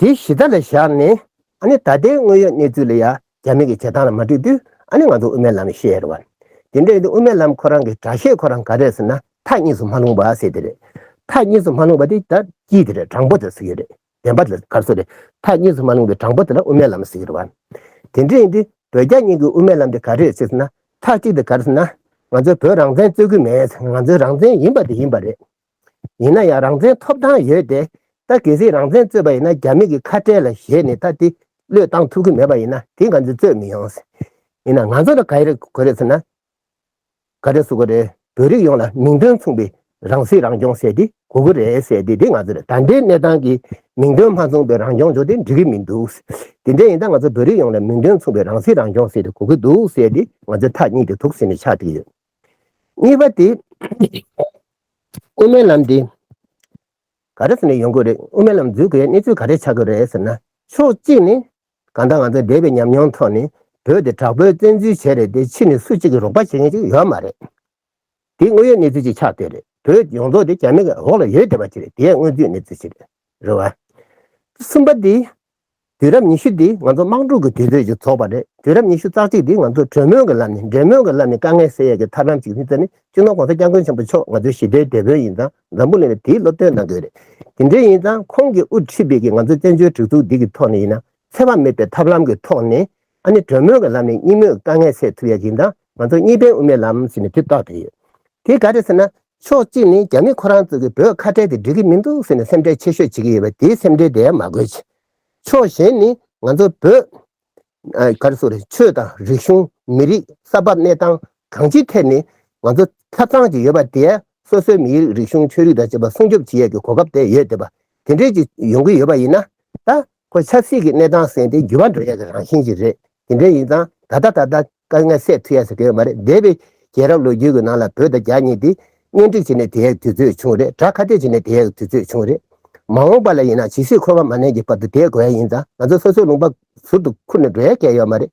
དེ་གཞི་བདག་ལ་བཞག་ནས་ཨ་ནི་ད་ལྟའི་དངོས་ཡོད་གནས་ཚུལ་ལ་ཡང་རྒྱ་མི་གི་བྱེད་སྟངས་ལ་མ་འགྲིག་དུས་ཨ་ནི་ང་ཚོ་དབུ་མའི་ལམ་ནས་བཤད་ཡ་རེད་བ། དེ་འདྲ་ཡིན་དུས་དབུ་མའི་ལམ་ཁོ་རང་གི་དྲག་ཤེས་ཁོ་རང་ག་རེད་ཟེར་ན་ཐག་གཉིས་སུ་མ་ལྷུང་བ་ཟེར་དེ་རེད། ཐག་གཉིས་སུ་མ་ལྷུང་བ་དེ་ད་སྐྱིད་དེ་རེད་དྲང་པོ་དེ་ཟེར་གྱི་རེད་བདེན་པ་དེ་ལ་དགའ་བསུ་རེད། ཐག་གཉིས་སུ་མ་ལྷུང་བའི་དྲང་པོ་དེ་ལ་དབུ་མའི་ལམ་ཟེར་གྱི་རེད་བ། དེ་འདྲ་ཡིན་དུས་བོད་རྒྱ་གཉིས་ཀྱི་དབུ་མའི་ལམ་དེ་ག་རེད་ཟེར་ན་ཐག་གཅིག་དེ་ག་རེད་ཟེར་ན། ང་ཚོའི་བོད་རང་བཙན་རྩོད་གི་མེད་ང་ཚོའི་རང་བཙན་ཡིན་པ་དེ་ཡིན་པ་རེད། ཡིན་ན་ཡང་རང་བཙན་ཐོབ་ཐང་ཡོད་དེ། ད་གལ་སྲིད་རང་བཙན་རྩོད་པ་ཡིན་ན་རྒྱ་མི་གི་ཁ་བྲལ་ལ་བཞེས་ནས་ད་དེ་བློས་བཏང་ཐུབ་གི་མེད་པ་ཡིན་ན་དེ་ག་ཚོད་རྩོད་མི་ཡོང། ཡིན་ན་ང་ཚོ་ལ་ག་རེ་དགོས་རེད་ཟེར་ན། ག་རེ་བཟོ་དགོས་རེད་བོད་རིགས་ཡོངས་ལ་མིང་དོན་མཚུངས་པའི་རང་སྲིད་རང་སྐྱོང་ཟེར་དེ་དགོས་གི་རེད་ཟེར་དེ་དེ་ང་ཚོ་ལ་ད་ལྟའི་གནས་སྟངས་ཀྱི་མིང་དོན་མ་མཚུངས་པའི་རང་སྐྱོང་ཇོ་དེ་འགྲིག་གི་མི་འདུག་དེ་འདྲ་ཡིན་ད་ང་ཚོ་བོད་རིགས་ཡོངས་ལ་མིང་དོན་མཚུངས་པའི་རང་སྲིད་རང་སྐྱོང་ཟེར་དེ་དགོས་གི་འདུག་ཟེར་དེ་ང་ཚོའི་ཐག་སྙིགས་དེ་དུག་སེལ་ནས་ཆགས་ཏེ་ཡོད། གཉིས་པ་དེ། དབུ་མའི་ལམ་འདི། ག་རེ་ཟེར་ནས་ཡོང་དགོས་རེད་དབུ་མའི་ལམ་འཛུགས་དགོས་ཡ་གནས་ཚུལ་ག་རེ་ཆགས་དགོས་རེད་ཟེར་ན། ཕྱོགས་གཅིག་ནི། གང་ལྟར་ང་ཚོའི་འདས་པའི་ཉམས་མྱོང་ཐོག་ནས་བོད་དེ་དྲག་པོའི་བཙན་འཛུལ་བྱས་རེད་དེ་ཕྱི་ནས་སུ་གཅིག་གིས་རོགས་པ་བྱེད་མཁན་ཅིག་ཡོད་མ་རེད། དེ་དངོས་ཡོད་གནས་ཚུལ་ཅིག་ཆགས་སྡོད་རེད་བོད་ཡོངས་རྫོགས་དེ་རྒྱ་མི་འོག་ལ་ཡོད་བསྡད་པ་ཅིག་རེད་དེ་ཡང་དངོས་བརྫུས་གནས་ཚུལ་ཞིག་རེད། རེད་བ། གསུམ་པ་དེ། དུས་རབས་ཉི་ཤུ་འདི་ང་ཚོ་དམག་འཁྲུག་གི་དུས་ཚོད་ཀྱིས་རྫོགས་པ་རེད་དུས་རབས་ཉི་ཤུ་རྩ་གཅིག་འདི་ང་ཚོ་གྲོས་མོལ་གྱི་ལམ་ནས་འབྲེལ་མོལ་གྱི་ལམ་ནས་དཀའ་ངལ་སེལ་ཡས་ཀྱི་ཐབས་ལམ་གཅིག་ཡིན་ཚད་ནི་སྤྱི་ནོར ྋགོང་ས ྋསྐྱབས་མགོན་ཆེན་པོ་མཆོག་ང་ཚོའི་ཞི་བདེའི་དེད་དཔོན་ཡིན་ཙང་འཛམ་བུ་གླིང་ལ་དེའི་སློབ་སྟོན་གནང་དགོས་རེད་དེ་འདྲའི་ཡིན་ཙང་ཁོང་གིས་དབུ་ཁྲིད་པའི་ཀྱི་ང་ཚོའི་བཙན་བྱོལ་སྒྲིག་འཛུགས་འདི་གྱི་ཐོག་ནས་ཡིན་ན་འཚེ་བ་མེད་པའི་ཐབས་ལམ་གྱི་ཐོག་ནས་ཨ་ནི་གྲོས་མོལ་གྱི་ལམ་ནས་གཉིས་མོས་དཀའ་ངལ་སེལ་ཐུབ་ཡ་ཡིན་ད་ང་ཚོ་གཉིས་ཕན་དབུ་མའི་ལམ་ཟེར་ནས་དུས་ཐོག་དེ་ཡོད་དེ་ག་རེད་ཟེར་ན་ཕྱོགས་གཅིག་ནས་རྒྱ་མི་ཁོ་རང་ཚོ་གི་བོད་ཁ་བྲལ་དེ་འགྲིག་གི་མི་འདུག་ཟེར་ནས་སེམས་ཁྲལ་ཆེ་ཤོས་བྱེད་ཀྱི་ཡོད་པ་དེའི་སེམས་ཁྲལ་དེ་ཡང་མ་དགོས་ཆེད། ཕྱོགས་གཞན་ནས་ང་ཚོ་བོད། ག་རེ་སོགས་རེད་ཆོས་དང་རིག་གཞུང་མི་རིགས་ས་བབ་གནས་སྟངས་གང་ཅིའི་ཐད་ནས་ང་ཚོ་ཐབས་ཚང་གཅིག་ཡོད་པ་དེ་ཡང་སོ་སོའི་མི་རིགས་རིག་གཞུང་ཆོས་རིག་དང་བཅས་པ་སྲུང་སྐྱོབ་བྱེད་ཡ་གི་གོ་སྐབས་དེ་ཡོད་དེ་པ་དེ་འདྲས་ཅིག་ཡོང་གི་ཡོད་པ་ཡིན་ན་ད་ཁོའི་ཆབ་སྲིད་ཀྱི་གནས་སྟངས་གསན་ཏེ་འགྱུར་བ་འགྲོ་ཡག་གི་རང་བཞིན་ཞིག་རེད་དེ་འདྲ་ཡིན་ཙང་ད་ལྟ་ད་ལྟ་དཀའ་ངལ་སེལ་ཐུབ་ཡག་ཟེར་གི་ཡོད་མ་རེད་འདས་པའི་རྒྱལ་རབས་ལོ་རྒྱུས་ཀྱི་ནང་ལ་བོད་དང་རྒྱ་གཉིས་དེ་གཉེན་སྒྲིག་བྱེད་ནས་དེ་ཡག་གི་དུས་ཚོད་བྱུང་རེད་དྲ་ཁ་གཏད་བྱེད་ནས་དེ་ཡག་གི་དུས་ཚོད་བྱུང་རེད་མ་འོངས་པ་ལ་ཡིན་ན་ཇི་སྲིད་ཁོ་བ་མ་གནས་ཀྱི་བར་དུ་དེ་དགོས་ཡག་ཡིན་ཙང་ང་ཚོ་སོ་སོའི་ལུང་པ་ཟུར་དུ་འཁུར་ནས་འགྲོ་ཡག་གི་ཡོད་མ་རེད།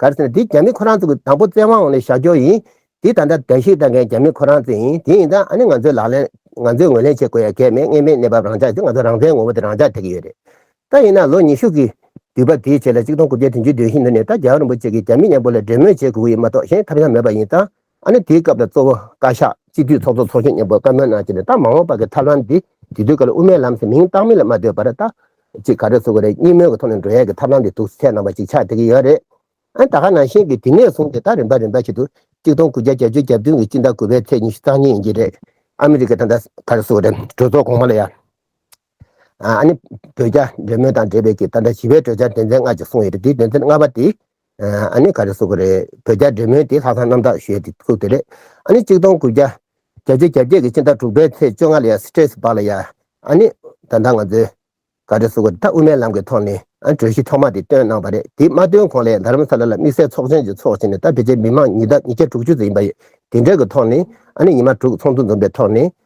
ག་རེ་ཟེར་ན་དེ་རྒྱ་མི་ཁོ་རང་ཚོ་གི་དང་པོ་བཙན་དབང་འོག་ནས་བཞག་འཇོག་ཡིན། དེ་ད་ལྟ་བདལ་བཤིག་བཏང་མཁན་རྒྱ་མི་ཁོ་རང་ཚོ་ཡིན་དེ་ཡིན་ད་ཨ་ནི་ང་ཚོས་ལག་ལེན་ང་ཚོས་ངོས་ལེན་བྱེད་དགོས་ཡ་གས་མེད་གནས་མེད་གནས་བབ་རང་ཅག་དེ་ང་ཚོ་རང་བཙན་ངོ་བོ་དེ་རང་ཅག་ཐེག་གི་ཡོད་རེད་ད་ཡིན་ན་ལོ་ཉི་ཤུ་གི་དུས་བབ་དེའི་ཆེད་ལ་གཅིག་སྟོང་དགུ་བརྒྱ་དྲུག་ཅུ་དོན་བཞི་ནུར་ནས་ད་རྒྱལ་བ་རིན་པོ་ཆེ་གི་རྒྱ་མི་མཉམ་པོ་ལ་འབྲེལ་མོལ་བྱེད་དགོས་ཀྱི་ཡིན་མ་གཏོགས་གཞན་ཐབས་ཡང་མེད་པ་ཡིན་ད། ཨ་ནི་དེའི་སྐབས་ལ་གཙོ་བོ་བཀའ་ཤག་སྤྱི་འཐུས་ཚོགས་གཙོ་ཚོགས་གཞོན་སྙན་པོ་བཀའ་མོལ་གནང་རྗེས་ནས་ད་མ་འོངས་པ་གི་ཐབས་ལམ་འདི་དུས་དུས་ཀ་ལ་དབུ་མའི་ལམ་ཟེར་མིང་བཏགས་མིན་ལ་མ་ལྟོས་པར་ད། ཅིག་ག་རེ་བཟོ་གི་རེད་གཉིས་མོལ་གི་ཐོག་ནས་འགྲོ་ཡས་ཀི་ཐབས་ལམ་འདི་དུག་ཚད་ནང་པ་ཅིག་ཆགས་བསྡད་ཀི་ཡོད་རེད། ཨ་ནི་ད་ཁ་ནང་བཞིན་གི་དེ་ནས་བཟུང་སྟེ་ད་རིམ་པ་རིམ་པ་ཞིག་ཏུ་གཅིག་སྟོང་དགུ་བརྒྱ་གྱ་བཅུ་གྱ་བདུན་གི་སྤྱི་ཟླ་དགུ་པའི་ཚེས་ཉི་ཤུ་རྩ་གཉིས་ཡིན་གྱི་རེད། ཨ་མི་རི་ཀ་དང་ད་ག་རེ་བཟོ་གི་རེད་གྲོས་ཚོགས་གོང་མ་ལ་ཡ། ཨ་ནི། བོད་རྒྱ་འབྲེལ་མོལ་དང་འབྲེལ་བའི་གྱི་ད་ལྟ་ཞི་བའི་གྲོས་འཆར་སྡེ་ཚན་ལྔ་ཅིག་གསུངས་ཡོད་རེད་དེའི་སྡེ་ཚན་ལྔ་པ་དེ། ཨ་ནི་ག་རེ་གསུངས་ཀྱི་རེད་བོད་རྒྱ་འབྲེལ་མོལ་དེ་ལྷག་བསམ་རྣམ་དག་ཞོས་དེ་གསུངས་ཏེ་རེད། ཨ་ནི་གཅིག་སྟོང་དགུ་བརྒྱ། བརྒྱ་ཆའི་གྱ་བརྒྱད་ཀྱི་ཕྱི་ཟླ་དྲུག་པའི་ཚེས་བཅོ་ལྔ་ལ་ཡང Stress སྦག་ལ་ཡང། ཨ་ནི། ད་ལྟ་ང་ཚོས། ག་རེ་གསུངས་ཀྱི་རེད་ད་དབུ་མའི་ལམ་གྱི་ཐོག་ནས་ཨ་ནི་གྲོས་གཞི་ཐོག་མ་དེ་བཏོན་གནང་བ་རེད་དེ་མ་བཏོན་གོང་ལས་དྷརྨ་སཱ་ལ་ལ་དམིགས་བསལ་ཚོགས་ཆེན་ཅིག་ཚོགས་བྱས་ནས་ད་ཕལ་ཆེར་མི་མང་ཉིས་བདག་ཉིས་བརྒྱ་དྲུག་ཅུ་ཙམ་ཡིན་པ་ཡོད་དེ་འདྲའི་གྱི་ཐོག་ནས་ཨ་ནི་ཉི་མ་དྲུག་ཚོགས་འདུ་འཛོམས་པའི་ཐོག་ནས་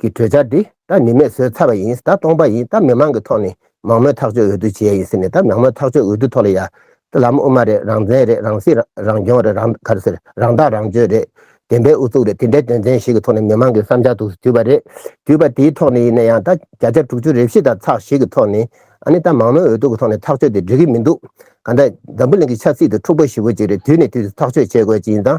གི་གྲོས་འཆར་འདི་ད་ནི་མེད་བཟོས་ཚར་བ་ཡིན་ད་སྟོང་པ་ཡིན་ད་མི་མང་གི་ཐོག་ནས་མང་མོས་ཐག་གཅོད་འོས་བསྡུ་བྱས་ཡིན་ཟེར་ནས་ད་མང་མོས་ཐག་གཅོད་འོས་བསྡུ་ཐོག་ལ་ཡ་ད་ལམ་དབུ་མ་རེད་རང་བཙན་རེད་རང་སྲིད་རང་སྐྱོང་རེད་རང་ག་རེ་ཟེར་རང་ཐག་རང་གཅོད་རེད་བདེན་པའི་ཨུ་ཚུགས་རེད་དེ་འདྲའི་དོན་ཚན་ཞིག་གི་ཐོག་ནས་མི་མང་གི་བསམ་འཆར་དུ་བསྡུས་པ་རེད་བསྡུས་པ་དེའི་ཐོག་ནས་ཡིན་ན་ཡང་ད་བརྒྱ་ཆ་དྲུག་ཅུ་རེ་བཞི་དང་ཚགས་ཤིག་གི་ཐོག་ནས་ཨ་ནི་ད་མང་མོས་འོས་བསྡུ་གི་ཐོག་ནས་ཐག་གཅོད་དེ་འགྲིག་གི་མི་འདུག་ག་ད་འཛམ་བུ་གླིང་གི་ཆབ་སྲིད་དུ་འཁྲུག་པ་ཞི་བོ་ཅིག་རེད་དུས་ནས་དུས་སུ་ཐག་གཅོད་བྱེད་དགོས་ཅི་ཡིན་དང་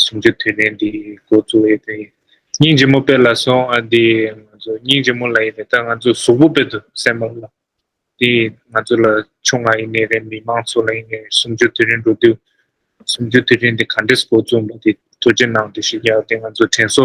གསུམ་བཅུ་དུས་ནས་འདི་འགོ་བཙུགས་ཡོད་དོན་ཡིན། སྙིང་རྗེ་མོ་དཔེ་ལ་སོང་ཨ་འདི་ང་ཚོ་སྙིང་རྗེ་མོ་ལ་ཡིན་ནས་ད་ང་ཚོ་གཟུགས་པོ་དཔེ་དུ་སེམས་མོ་ལ། འདི་ང་ཚོ་ལ་ཆུང་ང་ཡིན་ནས་རེད་མི་མང་ཚོ་ལ་ཡིན་ནས་གསུམ་བཅུ་དུས་རིང་འགྲོ་དུས། གསུམ་བཅུ་དུས་རིང་འདི་ག་འདྲེས་འགོ་བཙུགས་འདུག་འདི་དུ་ཅི་ནང་དུ་ཞིག་ཡག་འདི་ང་ཚོ་དྲན་གསོ་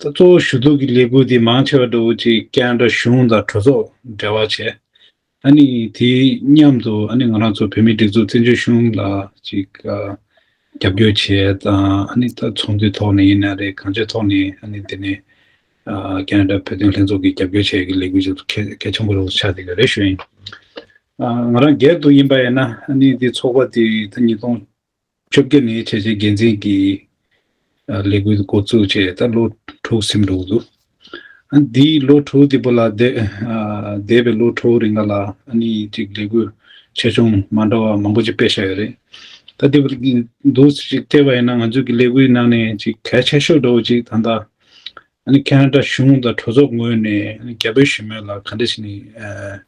གཙོ་བོ་ཞུ་གཏུག་གི་ལས་འགུལ་དེ་མང་ཆེ་བ་ཀྲོའུ་ཆི་ཀན་ར་གཞུང་དང་གྲོས་ཚོགས་འབྲེལ་བ་བྱས། ཨ་ནི་དེ་མཉམ་དུ་ཨ་ནི་ང་རང་ཚོ་བོད་མིའི་སྒྲིག་འཛུགས་བཙན་བྱོལ་གཞུང་ལ་ཅིག་རྒྱབ་སྐྱོར་བྱས་དང་ཨ་ནི་ད་ཚོགས་འདུའི་ཐོག་ནས་ཡིན་ན་རེད་གང་ཅིའི་ཐོག་ནས་ཨ་ནི་དེ་ནས་ཀན་ར་ཏྲ་བོད་དོན་ལྷན་ཚོགས་ཀྱི་རྒྱབ་སྐྱོར་བྱས་ཡོད་ཀྱི་ལས་འགུལ་ཅིག་ཏུ་གལ་གལ་ཆེན་པོ་རུ་ཆགས་བསྡད་ཡོད་རེད་ཞུ་ཡིན། ང་རང་སྒེར་དུ་ཡིན་པ་ཡིན་ན་ཨ་ནི་དེ་ཚོགས་པ་དེ་ད་ཉིས་སྟོང་བཅོ་བརྒྱད་ནས་བྱས་རྗེས་འགན་འཛིན་གྱི་ལས་འགུལ་འགོ་བཙུགས་བྱས་ད་ལོ་དྲུག་སིམ་འགྲོ་གི་འདུག་ཨ་འདི་ལོ་དྲུག་འདི་པོ་ལ་འདས་འདས་པའི་ལོ་དྲུག་རིང་ག་ལ་ཨ་ནི་ཅིག་ལས་འགུལ་ཆེ་ཆུང་མ་འདྲ་བ་མང་པོ་ཅིག་སྤེལ་ཤ་ཡོད་རེད་ད་འདི་པོ་འདུག་ཟེར་ཅིག་བལྟས་པ་ཡིན་ན་ང་ཚོས་ཀྱི་ལས་འགུལ་ནང་ནས་ཅིག་གལ་ཆེ་ཤོས་འགྲོ་བ་ཅིག་ད་ལྟ་ཨ་ནི་ཁ་ན་ད་གཞུང་དང་གྲོས་ཚོགས་ངོས་ནས་རྒྱ་བོད་ཞི་མོལ་ལ་ག་འདྲ་ཞིག་ནས་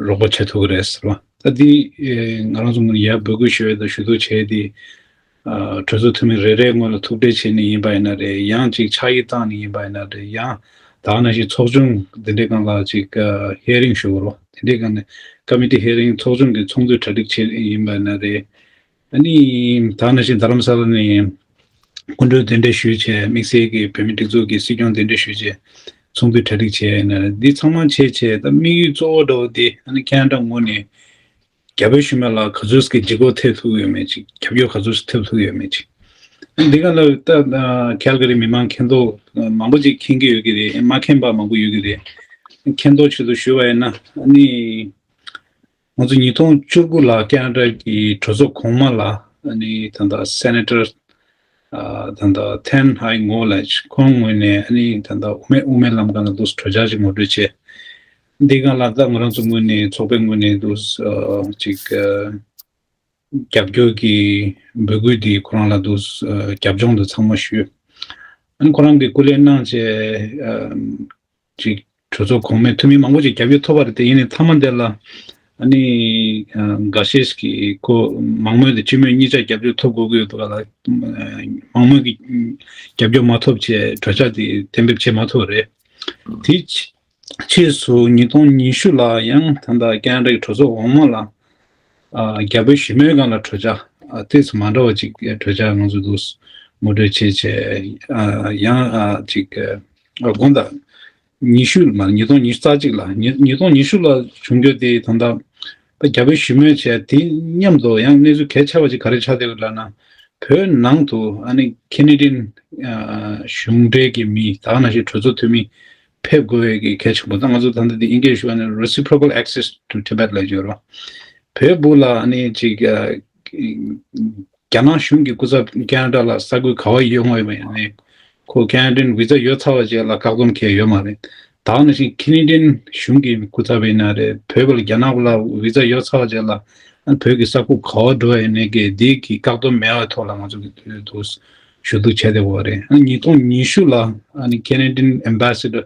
རོགས་པ་བྱེད་ཐུབ་ཀྱི་རེད་ཟེར་བ། ད་འདི་ང་རང་ཚོ་ཡར་འབོད་སྐུལ་ཞུ་ཡ་དང་ཞུ་གཏུག་བྱས་ཏེ། གྲོས་ཚོགས་འཐུས་མི་རེ་རེའི་སྔོན་ལ་ཐུག་འཕྲད་བྱས་ནི་ཡིན་པ་ཡིན་ན་རེད་ཡང་ཅིག་ཕྱག་ཡིག་བཏང་ནི་ཡིན་པ་ཡིན་ན་རེད་ཡང་དག་ན་ཞིག་ཚོགས་ཆུང་འདི་འདྲའི་སྒང་ལ་ཅིག hearing ཞུ་རོགས་དེ་འདྲའི་སྒང་ནས Committee hearing ཚོགས་ཆུང་གི་ཚོགས་འདུས་གྲ་སྒྲིག་བྱས་ཡིན་པ་ཡིན་ན་རེད། ད་ནི་ད་ནི་ཞིག་རྡ་རམ་ས་ལ་ནས་སྐུ་མགྲོན་གདན་འདྲེན་ཞུས་བྱས་དམིགས་བསལ་གྱི་བོད་མི་སྒྲིག་འཛུགས་ཀྱི་སྲིད་སྐྱོང་གདན་འདྲེན་ཞུས་བྱས་ཚོགས་འདུའི་གྲ་སྒྲིག་བྱས་ནས་འདི་ཚང་མ་བྱས་བྱས་ད་དམིགས་ཡུལ་གཙོ་བོ་འདྲ་བོ་དེ་ད་ནི་ཁྱེད་འདྲ་ངོ་ནས་རྒྱ་བོད་ཞུ་མེད་ལ་ག་ཚོད་ཀྱི་འཇིགས་སྐོག་ཐེབས་ཐུབ་ཡོད་མེད་ཅིག་ཁྱབ་ཡོ་ག་ཚོད་ཐེབས་ཐུབ་ཡོད་མེད་ཅིག་ཨ་འདི་ག་ལ་ད་ཁལ་ག་རི་མི་མང་མཁྱེན་རྟོགས་མང་པོ་ཅིག་མཁྱེན་གྱི་ཡོད་ཀྱི་རེད་མ་མཁྱེན་པ་མང་པོ་ཡོད་ཀྱི་རེད་མཁྱེན་རྟོགས་ཆེད་དུ་ཞུས་བ་ཡིན་ན་ཨ་ནི་ང་ཚོ་ཉིས་སྟོང་བཅུ་དགུ་ལ་ཀན་ཨ་རཱ་ཀྱི་གྲོས་ཚོགས་གོང་མ་ལ་ད་ལྟ Senator ད་ལྟ Thanh Hai Ngo ལ་ཁོང་ངོས་ནས་ད་ལྟ་དབུ་མེད་དབུ་མའི་ལམ་གང་ལ་འདུག་གྲོས་འཆར་ཅིག་ངོ་སྤྲོད་བྱས། འདི་ག་ལ་ད་ང་རང་ཚོ་ངོས་ནས་ཚོགས་པའི་ངོས་ནས་འདུག་ཅིག་རྒྱབ་སྐྱོར་གྱི་འབོད་སྐུལ་འདི་ཁོ་རང་ལ་འདུག་རྒྱབ་ལྗོངས་འདི་ཚང་མ་ཞུས། ཁོ་རང་གིས་སྐུ་ལས་གནང་བྱས། ཅིག་གྲོས་ཚོགས་གོང་མའི་འཐུས་མི་མང་པོ་ཞིག་རྒྱབ་སྐྱོར་ཐོབ་པ་རེད་དེ་ཡིན་ནའི་མཐའ་མ་དེ་ལ། ཨ་ནི། འགའ་ཤས་ཤིག་གིས་ཁོ་མང་མོས་དེ་སྤྱི་མོས་གཉིས་ཆ་རྒྱབ་སྐྱོར་ཐོབ་དགོས་ཀྱི་ཡོད་པ་ལ། མང་མོས་ཀྱི་རྒྱབ་སྐྱོར་མ་ཐོབ་ཆེད་གྲོས་འཆར་དེ་གཏན་འབེབས་བྱེད་མ་ཐུབ་པ་རེད། དེའི་ཕྱིས་སུ་ཉིས་སྟོང་ཉི་ཤུ་ལ་ཡང་ད་ལྟ་ཀན་རེག་གྲོས་ཚོགས་གོང་མ་ལ། རྒྱ་བོད་ཞི་མོལ་ཁང་ལ་གྲོས་འཆར་གཏད་སོ་མ་འདྲ་བ་ཅིག་གྲོས་འཆར་ང་ཚོས་ལུགས་ངོ་སྤྲོད་བྱེད་ཆེད་ཡང་ཅིག་དགུང་ཟླ་ཉི་ཤུ་མ་ཉིས་སྟོང་ཉི་ཤུ་རྩ་གཅིག་ལ་ཉིས་སྟོང་ཉི་ཤུ་ལ་བྱུང་འགྱུར་དེ་ད་ལྟ་རྒྱ་བོད་ཞི་མོལ་བྱས་དེ་མཉམ་དུ་ཡང་གནས་ཚུལ་གལ་ཆེ་བ་ཅིག་ག་རེ་ཆགས་བསྡད་ཡོད་ལབ་ན། བོད་ནང་དུ་ཨ་ནི་ཁེ་ནེ་ཏིན་གཞུང་འབྲེལ་གྱི་མི་དག་ན་ཞིག་གྲོས་ཚོགས་འཐུས་མི་ཕེབས་དགོས་བའི་གི་གལ་ཆེན་པོ་དང་ང་ཚོ་ད་ལྟ་དེ་ཨིན་སྐད་ཞུ་ཨ་ནི Reciprocal Access to Tibet ལ་བརྗོད་རོགས། བོད་བུ་ལ་ཨ་ནི་ཅིག་རྒྱ་ནག་གཞུང་གི་སྐུ་ཚབ་ཀན་ར་ལ་ས་ཁུལ་ག་བ་ཡོད་ངོས་མེད་ནས། ཁོ་ཀན་རིན་བི་ཛ་ཡོད་ཚར་བ་བཅས་ལ་བཀག་སྡོམ་བྱས་ཡོད་མ་རེད། ད་ནང་བཞིན་ཁི་ནི་ཏན་གཞུང་གི་སྐུ་ཚབ་ཡིན་ན་རེད་བོད་པ་ལ་རྒྱ་ནག་པ་ལ་བི་ཛ་ཡོད་ཚར་བ་བཅས་ལ་བོད་ཀྱི་ས་ཁུག་ག་བ་འགྲོ་ཡོད་ནས་དགེ་སྡིག་གི་བཀག་སྡོམ་མེད་བའི་ཐོག་ལ་ང་ཚོ་གི་དུས་དུ་ཞུ་གཏུག་བྱས་བསྡད་པ་བ་རེད། ཉིས་སྟོང་ཉི་ཤུ་ལ་ཨ་ནི་ཀན་རིན་ཏིན Ambassador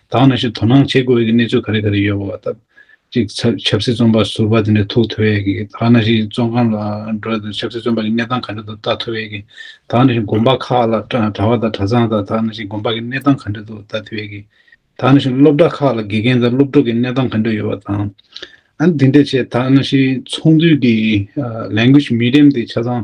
དག་ན་ཞིག་དོ་སྣང་བྱེད་དགོས་ཀྱི་གནས་ཚུལ་ག་རེ་ག་རེ་ཡོད་པ་དང། གཅིག་ཆབ་སྲིད་བཙོན་པ་ཟུར་པ་དེ་འདྲ་ཐུག་ཐུབ་བས་ཀྱི་དག་ན་ཞིག་བཙོན་ཁང་ལ་འགྲོ་དང་ཆབ་སྲིད་བཙོན་པ་གྱི་གནས་སྟངས་ག་འདྲ་འདུག་ལྟ་ཐུབ་བས་ཀྱི་དག་ན་ཞིག་དགོན་པ་ཁག་ལ་གྲྭ་བ་དང་གྲྭ་ཚང་དང་དག་ན་ཞིག་དགོན་པ་གྱི་གནས་སྟངས་ག་འདྲ་འདུག་ལྟ་ཐུབ་བས་ཀྱི་དག་ན་ཞིག་སློབ་གྲྭ་ཁག་ལ་དགེ་རྒན་དང་སློབ་ཕྲུག་གི་གནས་སྟངས་ག་འདྲ་ཡོད་པ་དང། འདི་འདྲ་བྱས་དག་ན་ཞིག་ཚོགས་འདུས་ཀྱི་ལས་འགུལ་ཞིག་མི་འགྲེམས་ཏེ་ཆ་ཚང་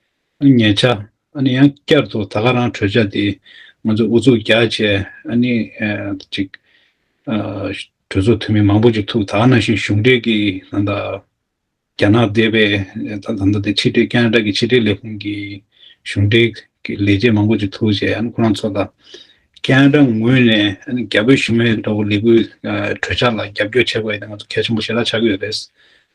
ཉེ་ཆར། ཨ་ནི་ཡང་བསྐྱར་དུ་ད་ག་རང་གྲོས་འཆར་དེ་ང་ཚོས་ཨུ་ཚུགས་རྒྱག་ཆེད་ཨ་ནི་ཅིག། གྲོས་ཚོགས་འཐུས་མི་མང་པོ་ཅིག་ཐུག་ད་ག་ནང་བཞིན་གཞུང་འབྲེལ་གྱི་ད་ལྟ། རྒྱ་ནག་སྡེ་བའི་ད་ལྟ་ནི་ཕྱི་དྲིལ་ཀན་ན་ར་གྱི་ཕྱི་དྲིལ་ལས་ཁུངས་ཀྱི་གཞུང་འབྲེལ་གྱི་ལས་བྱེད་མང་པོ་ཅིག་ཐུག་རྗེས་ཨ་ནི་ཁོ་རང་ཚོ་ལ། ཀན་ན་ར་ངོས་ནས་ཨ་ནི་རྒྱ་བོད་གཞུང་མའི་ཐོག་ལས་འགུལ་གྲོས་འཆར་ལ་རྒྱབ་སྐྱོར་བྱེད་དགོས་ཡོད་ནི་ང་ཚོ་གལ་ཆེན་པོ་ཞེ་དྲག་ཆགས་ཀྱི་ཡོད་རེད།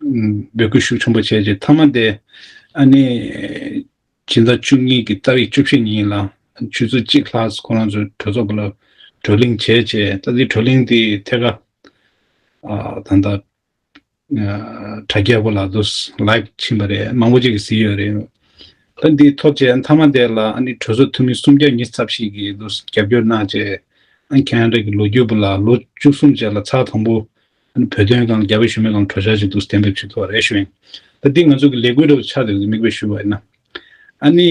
འབོད་སྐུལ་ཤུགས་ཆེན་པོ་བྱས་རྗེས་མཐའ་མ་དེ་ཨ་ནེ། སྦྱིན་བདག་བཅུ་གཉིས་ཀྱི་རྩ་བའི་བཅུ་བཞི་ཉིན་ལ་ཆུ་ཚོད་གཅིག་ལྷག་ཁོ་རང་ཚོའི་གྲོས་ཚོགས་ལ་བགྲོ་གླེང་བྱས་རྗེས་ད་ལྟའི་བགྲོ་གླེང་དེ་ཐད་ཀར་ད་ལྟ་དྲ་རྒྱའི་འོག་ལ Live ཕྱིན་པ་རེད་མང་པོ་ཅིག་གིས་གཟིགས་ཡོད་རེད། ད་འདི་ཐོབ་རྗེས་མཐའ་མ་དེ་ལ་ཨ་ནེ་གྲོས་ཚོགས་འཐུས་མི་སུམ་བརྒྱ་ཉིས་ཚབ་ཞིག་གིས་རྒྱབ་སྐྱོར་གནང་རྗེས་ཨ་ཁྱེད་རང་ཀྱི་ལོ་རྒྱུས་པོ་ལ་ལོ་བཅུ་གསུམ་རྗེས་ལ་ཚགས་དང་པོ་བོད་དོན་དང་རྒྱ་བོད་ཞུ་མེད་ལང་གྲོ་ཤར་གྱི་འདུག་གཏན་འབེབས་བྱེད་ཐུབ་པ་རེད་ཞུ་ཡིན། ད་འདི་ང་ཚོ་གི་ལས་འགུལ་རེ་བ་ཆགས་འདུག་གི་མིག་དཔེ་ཞུ་བ་ཡིན་ན། ཨ་ནི།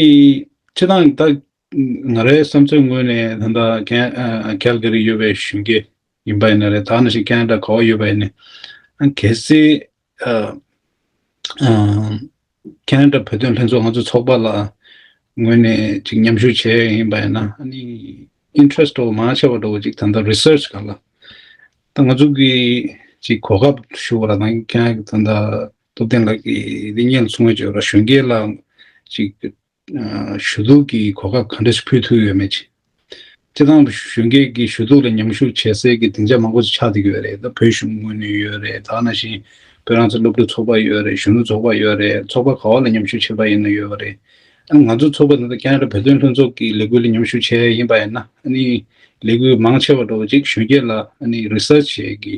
ཁྱེད་རང་ད། ང་རའི་བསམ་ཚོད་ངོས་ནས་ད་ལྟ Can Calgary ཡོད་པའི་གཞོན་སྐྱེས་ཡིན་པ་ཡིན་ན་རེད་ད་ནང་བཞིན Canada ག་བ་ཡོད་པ་ཡིན་ནའི། གལ་སྲིད། ཁྱེད་རང་འདྲ་བོད་དོན་ལྷན་ཚོགས་ང་ཚོའི་ཚོགས་པ་ལ་ངོས་ནས་ཅིག་མཉམ་ཞུགས་བྱས་ཡིན་པ་ཡིན་ན་ཨ་ནི interest ཏོ་མང་ཆེ་བ་འགྲོ་བ་ཅིག་ད་ལྟ research ག་ལ་ད་ང་ཚོ་གི་ཅིག་གོ་སྐབས་ཞུ་བ་ལ་ད་ཁྱེད་རང་གི་ད་ལྟ་སྟོབས་ལྡན་ལགས་ཀྱི་ལི་ཉན་ཚུགས་ངོས་ཅིག་ཡོད་ར་གཞོན་སྐྱེས་ལ་ཅིག་ཞུ་གཏུག་གི་གོ་སྐབས་གང་འདྲ་ཞིག་ཕུལ་ཐུབ་ཡོད་མེད་ཅེས། སྤྱི་བཏང་གཞོན་སྐྱེས་ཀྱི་ཞུ་གཏུག་ལ་མཉམ་ཞུགས་བྱེད་སའི་གི་སྡིངས་ཆ་མང་པོ་ཞིག་ཆགས་འདུག་ཡོད་རེད་ད་བོད་གཞུང་ངོས་ནས་ཡོད་རེད་ད་ན་བཞིན་བོད་རང་བཙན་སློབ་ཕྲུག་ཚོགས་པ་ཡོད་རེད་གཞོན་ནུ་ཚོགས་པ་ཡོད་རེད་ཚོགས་པ་ག་བ་ལ་མཉམ་ཞུགས་བྱེད་པ་ཡིན་ན་ཡོད་རེད་ཨ་ང་ཚོ་ཚོགས་པ་འདི་དང་ཀན་ར་བོད་དོན་ལྷན་ཚོགས་ཀྱི་ལས་འགུལ་ལ་མཉམ་ཞུགས་བྱས་ཡིན་པ་ཡིན་ན་ཨ་ནི་ལས་འགུལ་མང་ཆེ་བ་འགྲོ་བ་ཅིག་གཞོན་སྐྱེས་ལ་ཨ་ནི research བྱེད་གི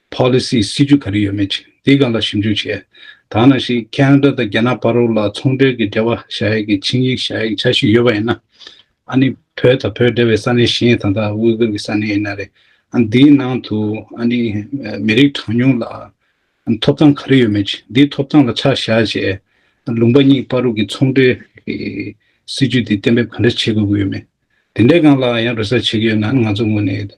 Policy། སྲིད་ཇུས་ག་རེ་ཡོད་མེད་ཅིག་འདི་ག་ལ་ཞིབ་འཇུག་བྱས། དག་ན་ཞིག Canada དང་རྒྱ་ནག་བར་རོགས་ལ་ཚོང་འབྲེལ་གྱི་འབྲེལ་བ་བྱ་ཡས་ཀྱི་ཆིངས་ཡིག་བྱ་ཡས་ཆ་ཞིག་ཡོད་པ་ཡིན་ན། ཨ་ནི་བོད་དང་བོད་འབྲེལ་བའི་ས་གནས་གཞན་ད་ལྟ་དབུས་གུར་གྱི་ས་གནས་ཡིན་ན་རེད། འདིའི་ནང་དུ་ཨ་ནི་མི་རིགས་གྲངས་ཉུང་ལ་ཐོབ་ཐང་ག་རེ་ཡོད་མེད་ཅིག་འདི་ཐོབ་ཐང་ལ་ཆ་བཞག་བྱས། ལུང་པ་གཉིས་བར་རོགས་ཀྱི་ཚོང་འབྲེལ་གྱི་སྲིད་ཇུས་འདི་གཏན་འབེབས་ག་འདྲ་བྱེད་དགོས་ཀྱི་ཡོད་མེད་དེ་འདྲའི་སྒང་ལ་ཡང་རེ་ས་བྱེད་ཀྱི་ཡོད་ན་ང་ཚོ་ངོས་ནས།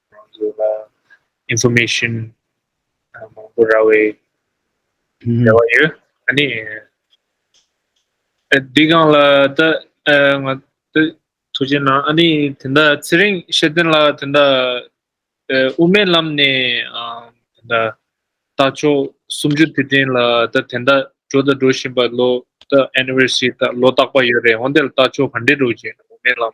ང་ཚོ་ལ Information མང་པོ་རག་བའི་རེ་བ་ཡོད། ཨ་ནི། འདི་གང་ལ་ད་ང་ད་ཐུགས་རྗེ་གནང། ཨ་ནི་དེ་འད་ཚེ་རིང་ཤེས་ལྡན་ལགས་དེ་འད་དབུ་མའི་ལམ་ནས་དེ་འད་ལྟ་ཕྱོགས་སུམ་ཅུ་དེ་དྲན་ལ་ད་དེ་འད་འགྲོ་ད་འགྲོ་བཞིན་པ་ལོ་ད Anniversary ད་ལོ་རྟག་པ་ཡོད་རེད་འོན་ཏེ་ལྟ་ཕྱོགས་ག་འདྲས་འགྲོ་བཞིན་འདུག་དབུ་མའི་ལམ་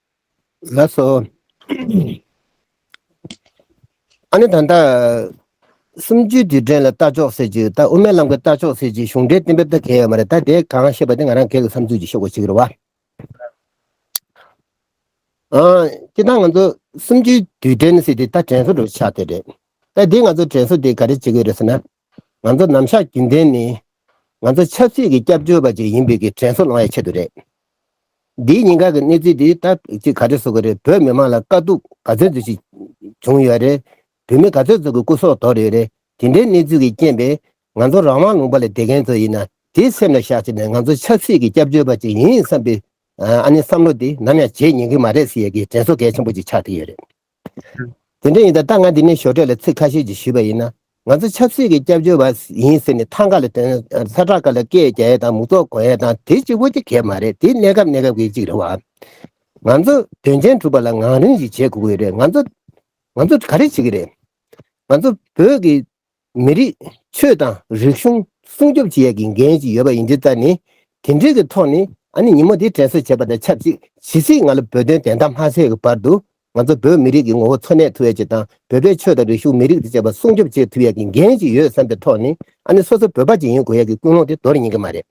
ལགས་སོ། ཨ་ནི་ད་ལྟ། གསུམ་བཅུའི་དུས་དྲན་ལ་ལྟ་ཕྱོགས་ཟེར་གྱི་ད་དབུ་མའི་ལམ་གྱི་ལྟ་ཕྱོགས་ཟེར་གྱི་གཞུང་འབྲེལ་གཏན་འབེབས་ད་གལ་ཡོད་མ་རེད་ད་དེ་གང་ཤེས་པ་དེ་ང་རང་གལ་གྱི་བསམ་ཚུལ་གྱི་ཤོག་བུ་ཞིག་རེད་བ། ཨང། ཅི་ད་ང་ཚོ་གསུམ་བཅུའི་དུས་དྲན་ཟེར་དེ་ད་དྲན་གསོ་འགྲོ་ཆགས་དེ་རེད། ད་དེ་ང་ཚོ་དྲན་གསོ་དེ་ག་རེ་བྱེད་དགོས་རེད་ཟེར་ན། ང་ཚོ་ནམ་ཞར་རྒྱུན་ལྡན་ནི་ང་ཚོ་ཆབ་སྲིད་ཀྱི་སྐྱབས་བཅོལ་བ་ཅིག་ཡིན་པའི་གི་དྲན་གསོ་ལང་བའི་ཆེད་དུ་རེད། འདིའི་ཉིན་ག་གི་གནས་ཚུལ་འདི་ལྟ་ཅི་ག་རེ་བཟོ་གི་རེད་བོད་མི་མང་ལ་དཀའ་སྡུག་ག་ཚོད་འདུག་ཅིག་བྱུང་ཡོད་རེད་བོད་མི་ག་ཚོད་ཚོ་གི་སྐུ་སྲོག་དོར་ཡོད་རེད་དེ་འདྲའི་གནས་ཚུལ་གྱི་རྐྱེན་པས་ང་ཚོ་རང་དབང་ལུང་པ་ལ་བསྡད་མཁན་ཚོ་ཡིན་ན་དེ་སེམས་ལ་བཞག་ཅིག་ནས་ང་ཚོ་ཆབ་སྲིད་ཀྱི་སྐྱབས་བཅོལ་བ་ཅིག་ཡིན་བསམ་པའི་ཨ་ནི་བསམ་བློ་དེ་ནམ་ཡང་བརྗེད་ཉན་གི་མ་རེད་ཟེར་ཡས་གི་དྲན་གསོ་གལ་ཆེན་པོ་ཅིག་ཆགས་ཏེ་ཡོད་རེད། དེ་འདྲ་ཡིན་ད་ལྟ་ང་འདི་ནས་ཞོར་འཕྲད་ལ་ཚིག་ཁ་ཤས་ཀྱིས་ཞུས་པ་ཡིན་ན། ང་ཚོ་ཆབ་སྲིད་ཀྱི་སྐྱབས་བཅོལ་བ་ཡིན་ཟེར་ནས་ཐང་ཀ་ལ་དོན་ས་བྲག་དཀར་ལ་སྐད་རྒྱག་ཡས་དང་མུག་ཙོག་འགོ་ཡས་དང་དེ་གཅིག་བོ་དེ་གས་མ་རེད་དེ་གནས་སྐབས་གནས་སྐབས་ཀྱི་གཅིག་རེད་བ། ང་ཚོ་དོན་ཆེན་གྲུབ་པ་ལ་ངང་རིང་ཞིག་བྱེད་དགོས་ཀྱི་རེད་ང་ཚོ་ང་ཚོ་ག་རེ་བྱེད་ཀྱི་རེད། ང་ཚོ་བོད་ཀྱི་མི་རིགས་ཆོས་དང་རིག་གཞུང་སྲུང་སྐྱོབ་བྱེད་ཡག་གི་འགན་ཞིག་ཡོད་པ་ཡིན་དྲི་ལྟར་ནི་དེ་འབྲེལ་གྱི་ཐོག་ནས་ཨ་ནི་ཉིན་མོ་དེ་དྲན་གསོ་བྱེད་པ་དང་ཆབས་ཅིག་ཇི་སྲིད་ང་ལ་བོད་དོན་བདེན་མཐའ་མ་གསལ་བའི་བར་དུ་ང་ཚོ་བོད་མི་རིགས་ཀྱི་ངོ་བོ་འཚོ་གནས་ཐུབ་ཡག་ཅིག་དང་བོད་པའི་ཆོས་དང་རིག་གཞུང་མི་རིགས་དང་བཅས་པ་སྲུང་སྐྱོབ་བྱེད་ཐུབ་ཡག་གི་འགན་ཞིག་ཡོད་བསམ་པའི་ཐོག་ནས་ཨ་ནི་སོ་སོ་བོད་པ་ཅིག་ཡིན་དགོས་ཡག་གི་ཀུན་སློང་དེ་དོར་ཉན་གྱི་མ་རེད།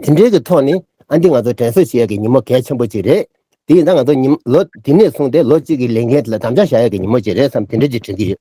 དེ་འབྲེལ་གྱི་ཐོག་ནས་ཨ་འདི་ང་ཚོ་དྲན་གསོ་བྱེད་ཡག་གི་ཉིན་མོ་གལ་ཆེན་པོ་ཅིག་རེད། དེ་ཡིན་ད་ང་ཚོ་ཉིན་ལོ་འདི་ནས་བཟུང་སྟེ་ལོ་གཅིག་གི་ལས་འགན་དེ་ལ་དམ་བཅའ་བཞག་ཡག་གི་ཉིན་མོ་ཅིག་རེད་བསམ་དེ་འདྲ་ཅིག་དྲན་གྱི་ཡོད།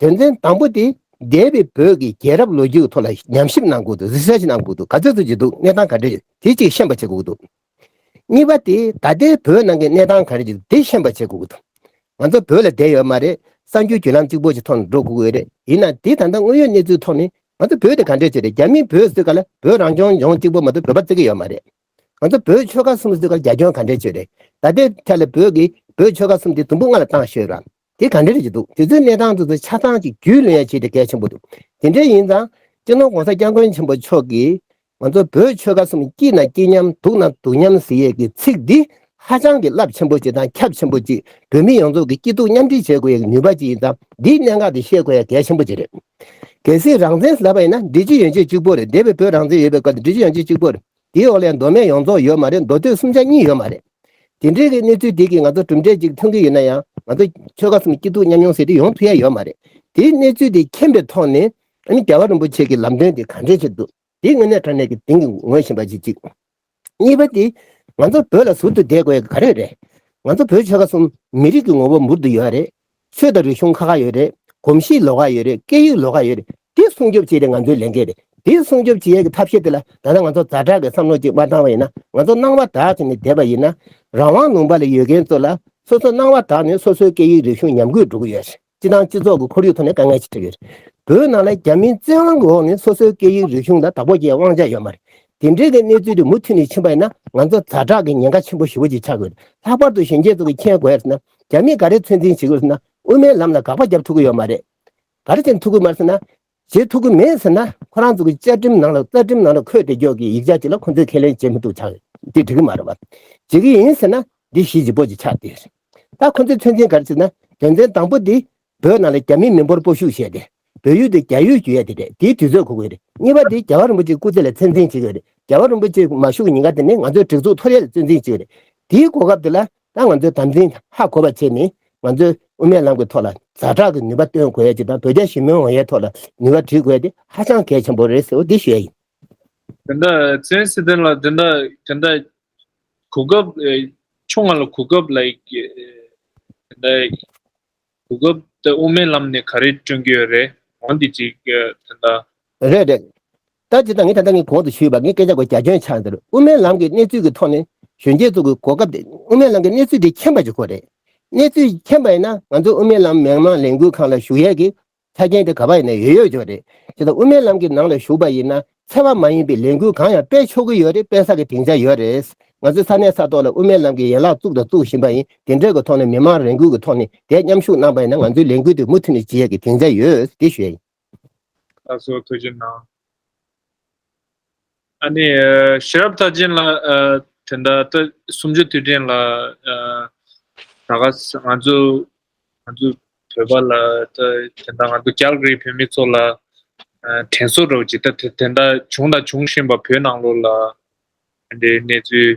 དོན་ཚན་དང་པོ་དེ་འདས་པའི་བོད་ཀྱི་རྒྱལ་རབས་ལོ་རྒྱུས་ཐོག་ལ་ཉམས་ཞིབ་གནང་དགོས་འདུག research གནང་དགོས་འདུག་ག་ཚོད་ཚོད་ཅིག་འདུག་གནས་སྟངས་ག་འདྲ་ཡོད་དེ་གཅིག་ཤེས་པ་བྱེད་དགོས་འདུག། གཉིས་པ་དེ་ད་ལྟའི་བོད་ནང་གི་གནས་སྟངས་ག་རེ་ཅིག་འདུག་དེ་ཤེས་པ་བྱེད་དགོས་འདུག་ང་ཚོ་བོད་ལ་བསྡད་ཡོད་མ་རེད་གསར་འགྱུར་བརྒྱུད་ལམ་གཅིག་པོ་ཞིག་ཐོག་ནས་འགྲོ་དགོས་ཀྱི་རེད་ཡིན་ནའང་དེ་ད་ལྟ་དངོས་ཡོད་གནས་ཚུལ་ཐོག་ནས་ང་ཚོ་བོད་དེ་ག་འདྲ་ཞིག་རེད་རྒྱ་མིས་བོད་བཟོས་ག་ལ་བོད་རང་སྐྱོང་ལྗོངས་གཅིག་པོ་མ་གཏོགས་བོད་པ་བརྩི་གི་ཡོད་མ་རེད། ང་ཚོ་བོད་ཆོལ་ཁ་གསུམ་བཟོས་ག་ལ་རྒྱ་ཁྱོན་ག་འདྲ་ཞིག་རེད་ད་ལྟའི་ཐད་ལ་བོད་ཀྱི་བོད་ཆོལ་ཁ་གསུམ་དེ་དུམ་བུ་ལྔ་ལ་བཏང་ཤོད་ར་དེ་ག་འདྲར་བྱེད་འདུག་དེ་ཚོའི་གནས་སྟངས་དེ་ཚོ་ཆ་ཚང་གཅིག་རྒྱུས་ལོན་ཡ་བྱེད་དེ་གལ་ཆེན་པོ་འདུག་དེ་འདྲའི་ཡིན་ཙང་སྤྱི་ནོར ྋགོང་ས ྋསྐྱབས་མགོན་ཆེན་པོ་མཆོག་གིས་ང་ཚོ་བོད་ཆོལ་ཁ་གསུམ་སྐྱིད་ན་སྐྱིད་མཉམ་སྡུག་ན་སྡུག་མཉམ་ཟེར་ཡས་ཀྱི་ཚིག་འདི་ཧ་ཅང་གི་རླབས་ཆེན་པོ་ཅིག་དང་ཁྱབ་ཆེན་པོ་ཅིག་བོད་མི་ཡོངས་རྫོགས་ཀྱི་སྐྱིད་སྡུག་མཉམ་འདྲེས་བྱེད་དགོས་ཡས་ཀྱི་ནུས་པ་ཅིག་ཡིན་ཙང་འདིའི་གནད་འགག་འདི་ཤེས་དགོས་ཡས་གལ་ཆེན་པོ་ཅིག་རེད། གལ་སྲིད་རང་བཙན་ཟེར་པ་ཡིན་ན་འདི་སྤྱི་ཡོངས་ཆེད་གཅིག་པོ་རེད་འདས་པའི་བོད་རང་བཙན་ཡོད་པའི་སྐབས་འདི་སྤྱི་ཡོངས་ཆེད་གཅིག་པོ་རེད། དེའི་འོག་ལས་མདོ་སྨད་ཡོངས་རྫོགས་ཡོད་མ་རེད་མདོ་སྟོད་སུམ་ཆ་གཉིས་ཡོད་མ་རེད། དེ་འདྲའི་གནས་ཚུལ་དེ་གིས་ང་ཚོ་གྲུབ་འབྲས་གཅིག་འཐོན་གྱི་ཡོད་ན་ཡང་ང་ཚོ་ཆོལ་ཁ་གསུམ་སྐྱིད་སྡུག་མཉམ་མྱོང་ཟེར་དུས་ཡོང་ཐུབ་ཡ་ཡོད་མ་རེད། དེའི་གནས་ཚུལ་དེ་མཁྱེན་པའི་ཐོག་ནས་ཨ་ནི་རྒྱལ་བ་རིན་པོ་ཆེ་གི་ལམ་སྟོན་དེ་ག་འདྲའི་ཆེད་དུ། དེ་དངོས་གནས་དྲང་གནས་ཀྱི་དེང་གི་ངོས་བཞིན་པ་ཞིག་གཅིག། གཉིས་པ་དེ། ང་ཚོ་བོད་ལ་ཟུར་དུ་བསྡད་དགོས་ཡ་ག་རེ་རེད། ང་ཚོ་བོད་ཆོལ་ཁ་གསུམ་མི་རིགས་ཀྱི་ངོ་བོ་འབུར་དུ་ཡོད་རེད། ཆོས་དང་རིག་གཞུང་ཁ་ཁ་ཡོད་རེད། གོམས་གཤིས་ལོགས་ཀ་ཡོད་རེད་སྐད་ཡིག་ལོགས་ཀ་ཡོད་རེད་དེ་སྲུང་སྐྱོབ་བྱེད་དེ་ང་ཚོའི་ལས་འགན་རེད་དེ་སྲུང་སྐྱོབ་བྱེད་ཡས་ཀྱི་ཐབས་ཤེས་དེ་ལ་ད་ལྟ་ང་ཚོ་ཛར་དྲག་གི་བསམ་བློ་ཅིག་མ་བཏང་བ་ཡིན་ན་ང་ཚོ་སྣང་བ་དྲག་ཅིག་ནས་བསྡད་པ་ཡིན་ན་རང་དབང་ལུང་པ་ལ་ཡོད་མཁན་ཚོ་ལ་སོ་སོ་སྣང་བ་དྲག་ནས་སོ་སོའི་སྐད་ཡིག་རིག་གཞུང་ཉམས་རྒུད་འགྲོ་གི་ཡོད་རེད་སྤྱི་དང་སྤྱི་ཚོགས་ཀྱི་ཁོར་ཡུག་ཐོག་ནས་དཀའ་ངལ་ཆེ་ཐེབས་ཡོད་རེད་བོད་ནང་ལ་རྒྱ་མིའི་བཙན་དབང་གི་འོག་ནས་སོ་སོའི་སྐད་ཡིག་རིག་གཞུང་ལ་བདག་པོ་བྱེད་དབང་ཆ་ཡོད་མ་རེད་དེ་འདྲའི་གི་གནས་ཚུལ་དེ་མུ་མཐུད་ནས་ཕྱིན་པ་ཡིན་ན་ང་ཚོ་ཛར་དྲག་གི་ཉེན་ཁ་ཆེན་པོ་ཞི་བོ་ཅིག་ཆགས་གི་ཡོད་རེད་ལྷག་པར་དུ་གཞོན་སྐྱེས་ཚོ་གི་མཁྱེན་དགོས་ཡ་རེད་ན། རྒྱ་མིས་ག་རེ་ཚོད་འཛིན་བྱེད་དགོས་ཟེར་ན་དབུ་མའི་ལམ་ལ་དགག་པ་བརྒྱབ་ཐུབ་ཀྱི་ཡོད་མ་རེད། ག་རེ་བྱེད་ཐུབ་ཀྱི་མ་རེད་ཟེར་ན། བྱེད་ཐུབ་ཀྱི་མེད་ཟེར་ན་ཁོ་རང་ཚོ་གི་བཅའ་ཁྲིམས་ནང་ལ་རྩ་ཁྲིམས་ནང་ལ་འཁོད་བསྡད་ཀྱོག་གི་ཡིག་ཆ་ཅིག་ལ་ཁོ་ཚོས་ཁས་ལེན་བྱེད་མི་ཐུབ་ཆགས། འདི་འགྲིག་གི་མ་རེད་བ། བྱེད་ཀྱི་ཡིན་ཟེར་ན་འདི་གཞིས་བྱེས་པོ་ཅིག་ཆགས་འདི། ད་ཁོ་ཚོས་ཚོད་འཛིན་ག་རེ་བྱེད་ཟེར་ན་དོན་ཚན་དང་པོ་དེ་བོད་ནང་ལ་རྒྱ་མི་མི་འབོར་སྤོ་ཤུགས་བྱས་ཏེ། བོད་ཡུལ་དེ་རྒྱ་ཡུལ་བརྒྱུད་ཡ་དེ་རེད་དེའི་དུས་ཚོད་གོ་དགོས་རེད་གཉིས་པ་དེ་རྒྱ་བ་རིན་པོ་ཆེའི་སྐུ་ཚེ་ལ་ཚད་འཛིན་བྱེད་དགོས་རེད་རྒྱ་བ་རིན་པོ་ཆེ་མ་ཞུགས་ཉིན་ག་དེ་ནས་ང་ཚོའི་སྒྲིག་འཛུགས་འཐོར་ཡ་ལ་ཚོད་འཛིན་བྱེད་རེད་དེའི་གོ་སྐབས་དེ་ལ་ད་ང་ཚོའི་དམ་འཛིན་ཧ་གོ་བ་བྱས་ནས་ང་ཚོའི་དབུ་མའི་ལམ་གྱི་ཐོག་ལ་ཛ་དྲག་གི་ནུས་པ་བཏོན་དགོས་ཡ་གཅིག་དང་བོད་རྒྱ་ཞི་མོལ་འོང་ཡའི་ཐོག་ལ་ནུས་པ་བྲིས་དགོས་ཡ་དེ་ཧ་ཅང་གལ་ཆེན་པོ་རེད་ཟེར་བ་དེ་ཞེས་ཡིན། དེ་འདྲ་བཙན་སི་ཐན་ལ་དེ་འདྲ་དེ་འདྲ་གོ་སྐབས་ཆུང་ང་ལ་གོ་སྐབས་ལ་དེ་འདྲ། གོ་སྐབས་འདི་དབུ་མའི་ལམ་ནས་ག་རེ་བསྐྲུན་གྱི་ཡོད་རེད་འོང་འདི་ཅིག་ད་ལྟ། རེད་རེད། ད་ཅི་ད་ངས་ད་ལྟ་ངས་གོང་དུ་ཞུས་པ་ངའི་སྐད་ཆ་སྒོ་རྒྱ་ཁྱོད་ཆགས་འདིར་དབུ་མའི་ལམ་གྱི་གནས་ཚུལ་གྱི་ཐོག་ནས་གཞོན་སྐྱེས་ཚོ་གི་གོ་སྐབས་འདི་དབུ་མའི་ལམ་གྱི་གནས་ཚུལ་འདི་མཁྱེན་པ་ཅིག་ཁོ་རེད། གནས་ཚུལ་མཁྱེན་པ་ཡིན་ན་ང་ཚོ་དབུ་མའི་ལམ་མི་དམངས་ལས་འགུལ་ཁང་ལ་ཞུགས་ཡས་ཀྱི་ཆ་རྐྱེན་དེ་ག་པ་ཡིན་ན་ཡོད་ཡོད་ཅིག་རེད། དེ་དང་དབུ་མའི་ལམ་གྱི་ནང་ལ་ཞུགས་པ་ཡིན་ན་འཚེ་བ་མ་ཡིན་པའི་ལས་འགུལ་གང་ཡང་སྤེལ་ཆོག་གི་ཡོད་རེད་སྤེལ་ས་གི་སྡིངས་ཆ་ཡོད་རེད། ང་ཚོའི་ས་གནས་ས་ཐོག་ལ་དབུ་མའི་ལམ་གྱི་ཡན་ལག་བཙུགས་དང་བཙུགས་བཞིན་པ་ཡིན་དེ་འབྲེལ་གྱི་ཐོག་ནས་མི་མང་རེ་འགུལ་གྱི་ཐོག་ནས་དེ་མཉམ་ཞུགས་གནང་པ་ཡིན་ན་ང་ཚོའི་ལས་འགུལ་དེ་མུ་མཐུད་ནས་བྱེད་ཡག་གི་སྡིངས་ཆ་ཡོད་དེ་ཞུ་ཡག་ཡིན། ད་གཟོད་ཐུགས་རྗེ་གནང། ཨ་ནི། ཤེས་རབ་མཐའ་ཅན་ལ། དེ་འདྲ་ལྟ། སུམ་ཅུ་དུས་དྲན་ལ། ད་ག་ས་ང་ཚོ། ང་ཚོ་བོད་པ་ལ་ལྟ། དེ་འདྲ་ང་ཚོ་རྒྱ་གར་གྱི་བོད་མི་ཚོ་ལ། དྲན་གསོ་རོགས་གྱིས་ལྟ་དེ་འདྲ་བྱུང་དང་འབྱུང་བཞིན་པ་བོད་ནང་ལོ་ལ། དེ་འདྲའི་གནས་ཚུལ།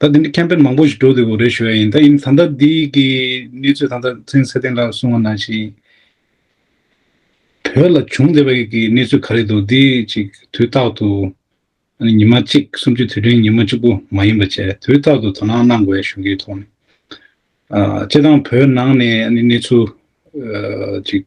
ད་འདི་ནི་ཁྱད་ཕན་མང་པོ་ཞིག་འགྲོ་འདོད་པོ་རེད་ཞུ་བ་ཡིན་ད་ཡིན་ད་ལྟ་འདི་གི་གནས་ཚུལ་ད་ལྟ་ཚན་གསལ་ལྡན་ལགས་གསུང་བ་ནང་བཞིན། བོད་ལ་བྱུང་བསྡད་པ་ཡིག་གི་གནས་ཚུལ་ག་རེད་འདུག་འདི་ཅིག་དུས་རྟག་ཏུ། ཨ་ནི་ཉི་མ་གཅིག་སུམ་ཅུ་དུས་དྲན་ཉིན་མོ་གཅིག་པུ་མ་ཡིན་པ་བཅས་དུས་རྟག་ཏུ་དོ་སྣང་གནང་དགོས་ཡ་ཞུ་གི་ཐོག་ནས། ཨ་ཅེ་དང་བོད་ནང་ནས་ཨ་ནི་གནས་ཚུལ། ཅིག།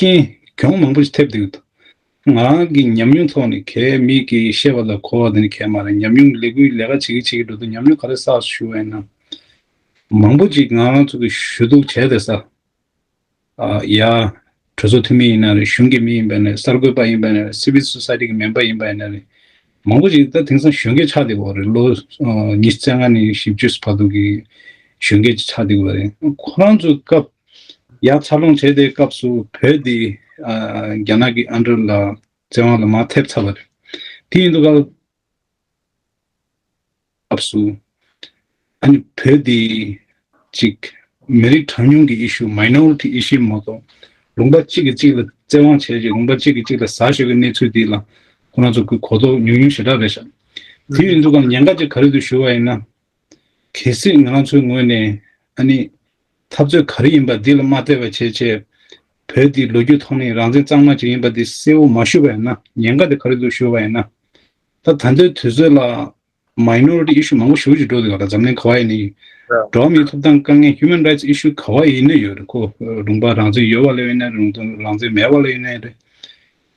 རྐྱེན་གྱོང་མང་པོ་ཞིག་ཐེབས་འདུག་ང་གི་ཉམས་མྱོང་ཐོག་ནས་གད་མིག་གིས་བཤད་པ་ལ་གོ་བ་དེ་ནི་གད་མ་རེད་ཉམས་མྱོང་གི་ལས་འགུལ་ལས་ཀ་བྱེད་ཀྱི་བྱེད་ཀྱི་འགྲོ་འདུག་ཉམས་མྱོང་ག་རེ་བསགས་སུ་ཞུ་བ་ཡིན་ནམ། མང་པོ་ཅིག་ང་ཚོ་གི་ཞུ་གཏུག་བྱས་ཏེ་ས་ཡ། གྲོས་ཚོགས་འཐུས་མི་ཡིན་ན་རེད་གཞུང་གི་མི་ཡིན་པ་ཡིན་ན་རེད་གསར་འགོད་པ་ཡིན་པ་ཡིན་ན་རེད Civil Society གི་མེམ་པར་ཡིན་པ་ཡིན་ན་རེད་མང་པོ་ཅིག་ད་དེང་སང་གཞོན་སྐྱེས་ཆགས་འདེགས་འོག་རེད་ལོ་ཉི་བརྩེགས་ལྔ་ནས་བཞི་བཅུ་བར་དུ་གི་གཞོན་སྐྱེས་ཅིག་ཆགས་འདེགས་འོག་རེད་ཁོ་རང་ཚོའི་སྐབས། ཡང་འཚར་ལོངས་བྱས་དེའི་སྐབས་སུ་བོད་འདི་རྒྱ་ནག་གི་ཨ་འབྲུག་ལ་བཙན་དབང་ལ་མ་ཐེབས་ཚར་བ་རེད། དེ་ཡིན་དུས་སྐབས་སུ་ཨ་ནི་བོད་འདི་ཅིག་མི་རིགས་གྲངས་ཉུང་གི issue minority issue མ་གཏོགས་ལུང་པ་གཅིག་གིས་གཅིག་ལ་བཙན་དབང་བྱས་རྗེས་ལུང་པ་གཅིག་གིས་གཅིག་ལ་ཟ་ཤོད་ཀྱི་གནས་ཚུལ་འདི་ལ་ཁོ་རང་ཚོ་གི་གོ་རྟོགས་ཉུང་ཉུང་ཞེ་དྲག་རེད་ཤག་དེ་ཡིན་དུས་སྐབས་ཉེན་ཁ་ཅིག་ག་རེ་དུ་ཞུ་བ་ཡིན་ན་གལ་སྲིད་ང་ཚོའི་ངོས་ནས་ཨ་ནི། འཐབ་རྩོད་ག་རེ་ཡིན་པ་འདི་ལ་མ་བལྟས་པ་བྱས་རྗེས། བོད་འདི་ལོ་རྒྱུས་ཐོག་ནས་རང་བཙན་གཙང་མ་ཅིག་ཡིན་པ་འདི་གསལ་བོ་མ་ཞུ་བ་ཡིན་ན་ཉེན་ཁ་འདི་ག་རེ་འདུག་ཞུ་བ་ཡིན་ན། ད་ད་ལྟའི་དུས་ཚོད་ལ། Minority Issue མང་པོ་ཞུ་བཞིན་འགྲོ་འདུག་ག་ལ་འཛམ་གླིང་ག་བ་ཡི་ནི། འགྲོ་བ་མིའི་ཐོབ་ཐང་དཀའ་ངལ Human Rights Issue ག་བ་ཡི་ནི་ཡོད་རེད་ཁོ། རུང་བ་རང་བཙན་ཡོད་བ་ལོས་ཡིན་ནའི་རུང་དོན་རང་བཙན་མེད་བ་ལོས་ཡིན་ནའི་རེད།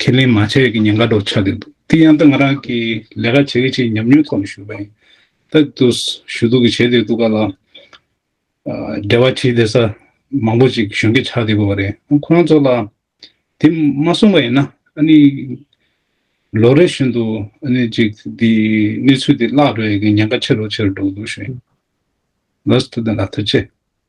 ཁས་ལེན་མ་བྱས་ཀྱི་ཉེན་ཁ་སྒྲོག་ཆགས་ཀྱི་འདུག་དེ་ཡང་ད་ང་རང་གིས་ལས་ཀ་བྱེད་ཀྱི་ཆེས་ཉམས་མྱོང་ཐོག་ནས་ཞུ་བ་ཡིན། ད་དུ་ཞུ་གཏུག་གི་བྱེད་བདེ་འདུག་ག་ལ། འབྲེལ་བ་བྱེད་བདེ་ས་མང་པོ་ཅིག་གཞོན་སྐྱེས་ཆགས་བསྡད་དགོས་པ་རེད། ཁོ་རང་ཚོ་ལ་དེ་མ་གསུངས་པ་ཡིན་ན་ཨ་ནི་ལོ་རེ་བཞིན་དུ་ཨ་ནི་ཅིག་དེ་གནས་ཚུལ་དེ་བརླག་འགྲོ་ཡི་གི་ཉེན་ཁ་ཆེ་རུ་ཆེ་རུ་འགྲོ་གི་འདུག་གཞོན་ལ་ལ་ཐུགས་རྗེ།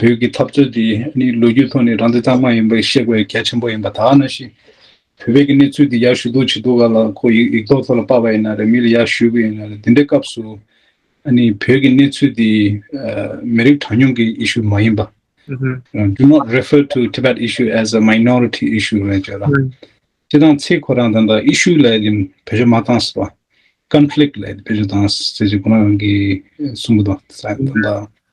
བོད་ཀྱི་འཐབ་རྩོད་དེ་ནི་ལོ་རྒྱུས་ཐོག་ནས་རང་བདེ་རྩ་མ་ཡིན་པའི་ཤེས་དགོས་གལ་ཆེན་པོ་ཡིན་པ་དག་ན་ཞིག་བོད་པའི་གི་གནས་ཚུལ་འདི་ཡར་ཞུ་གཏུག་བྱེད་གཏུག་ག་ལ་ཁོ་ཡིག་ཡིག་ཐོག་ཐོག་ལ་པ་བ་ཡིན་ན་རེ་མི་ལ་ཡར་ཞུས་གི་ཡིན་ན་རེ་དེ་འདྲའི་སྐབས་སུ་ཨ་ནི་བོད་ཀྱི་གནས་ཚུལ་འདི་མི་རིགས་གྲངས་ཉུང་གི issue མ་ཡིན་པ do not refer to Tibet issue as a minority issue རེད་ཅེས་རང་སྤྱི་དང་ཚེ་ཁོ་རང་དང་དང issue ལ་ཡི་བེད་སྤྱོད་མ་བཏང་སྲིད་པ conflict ལ་ཡི་བེད་སྤྱོད་བཏང་སྲིད་ཅེས་ཁོ་རང་གི་གསུངས་པ་དང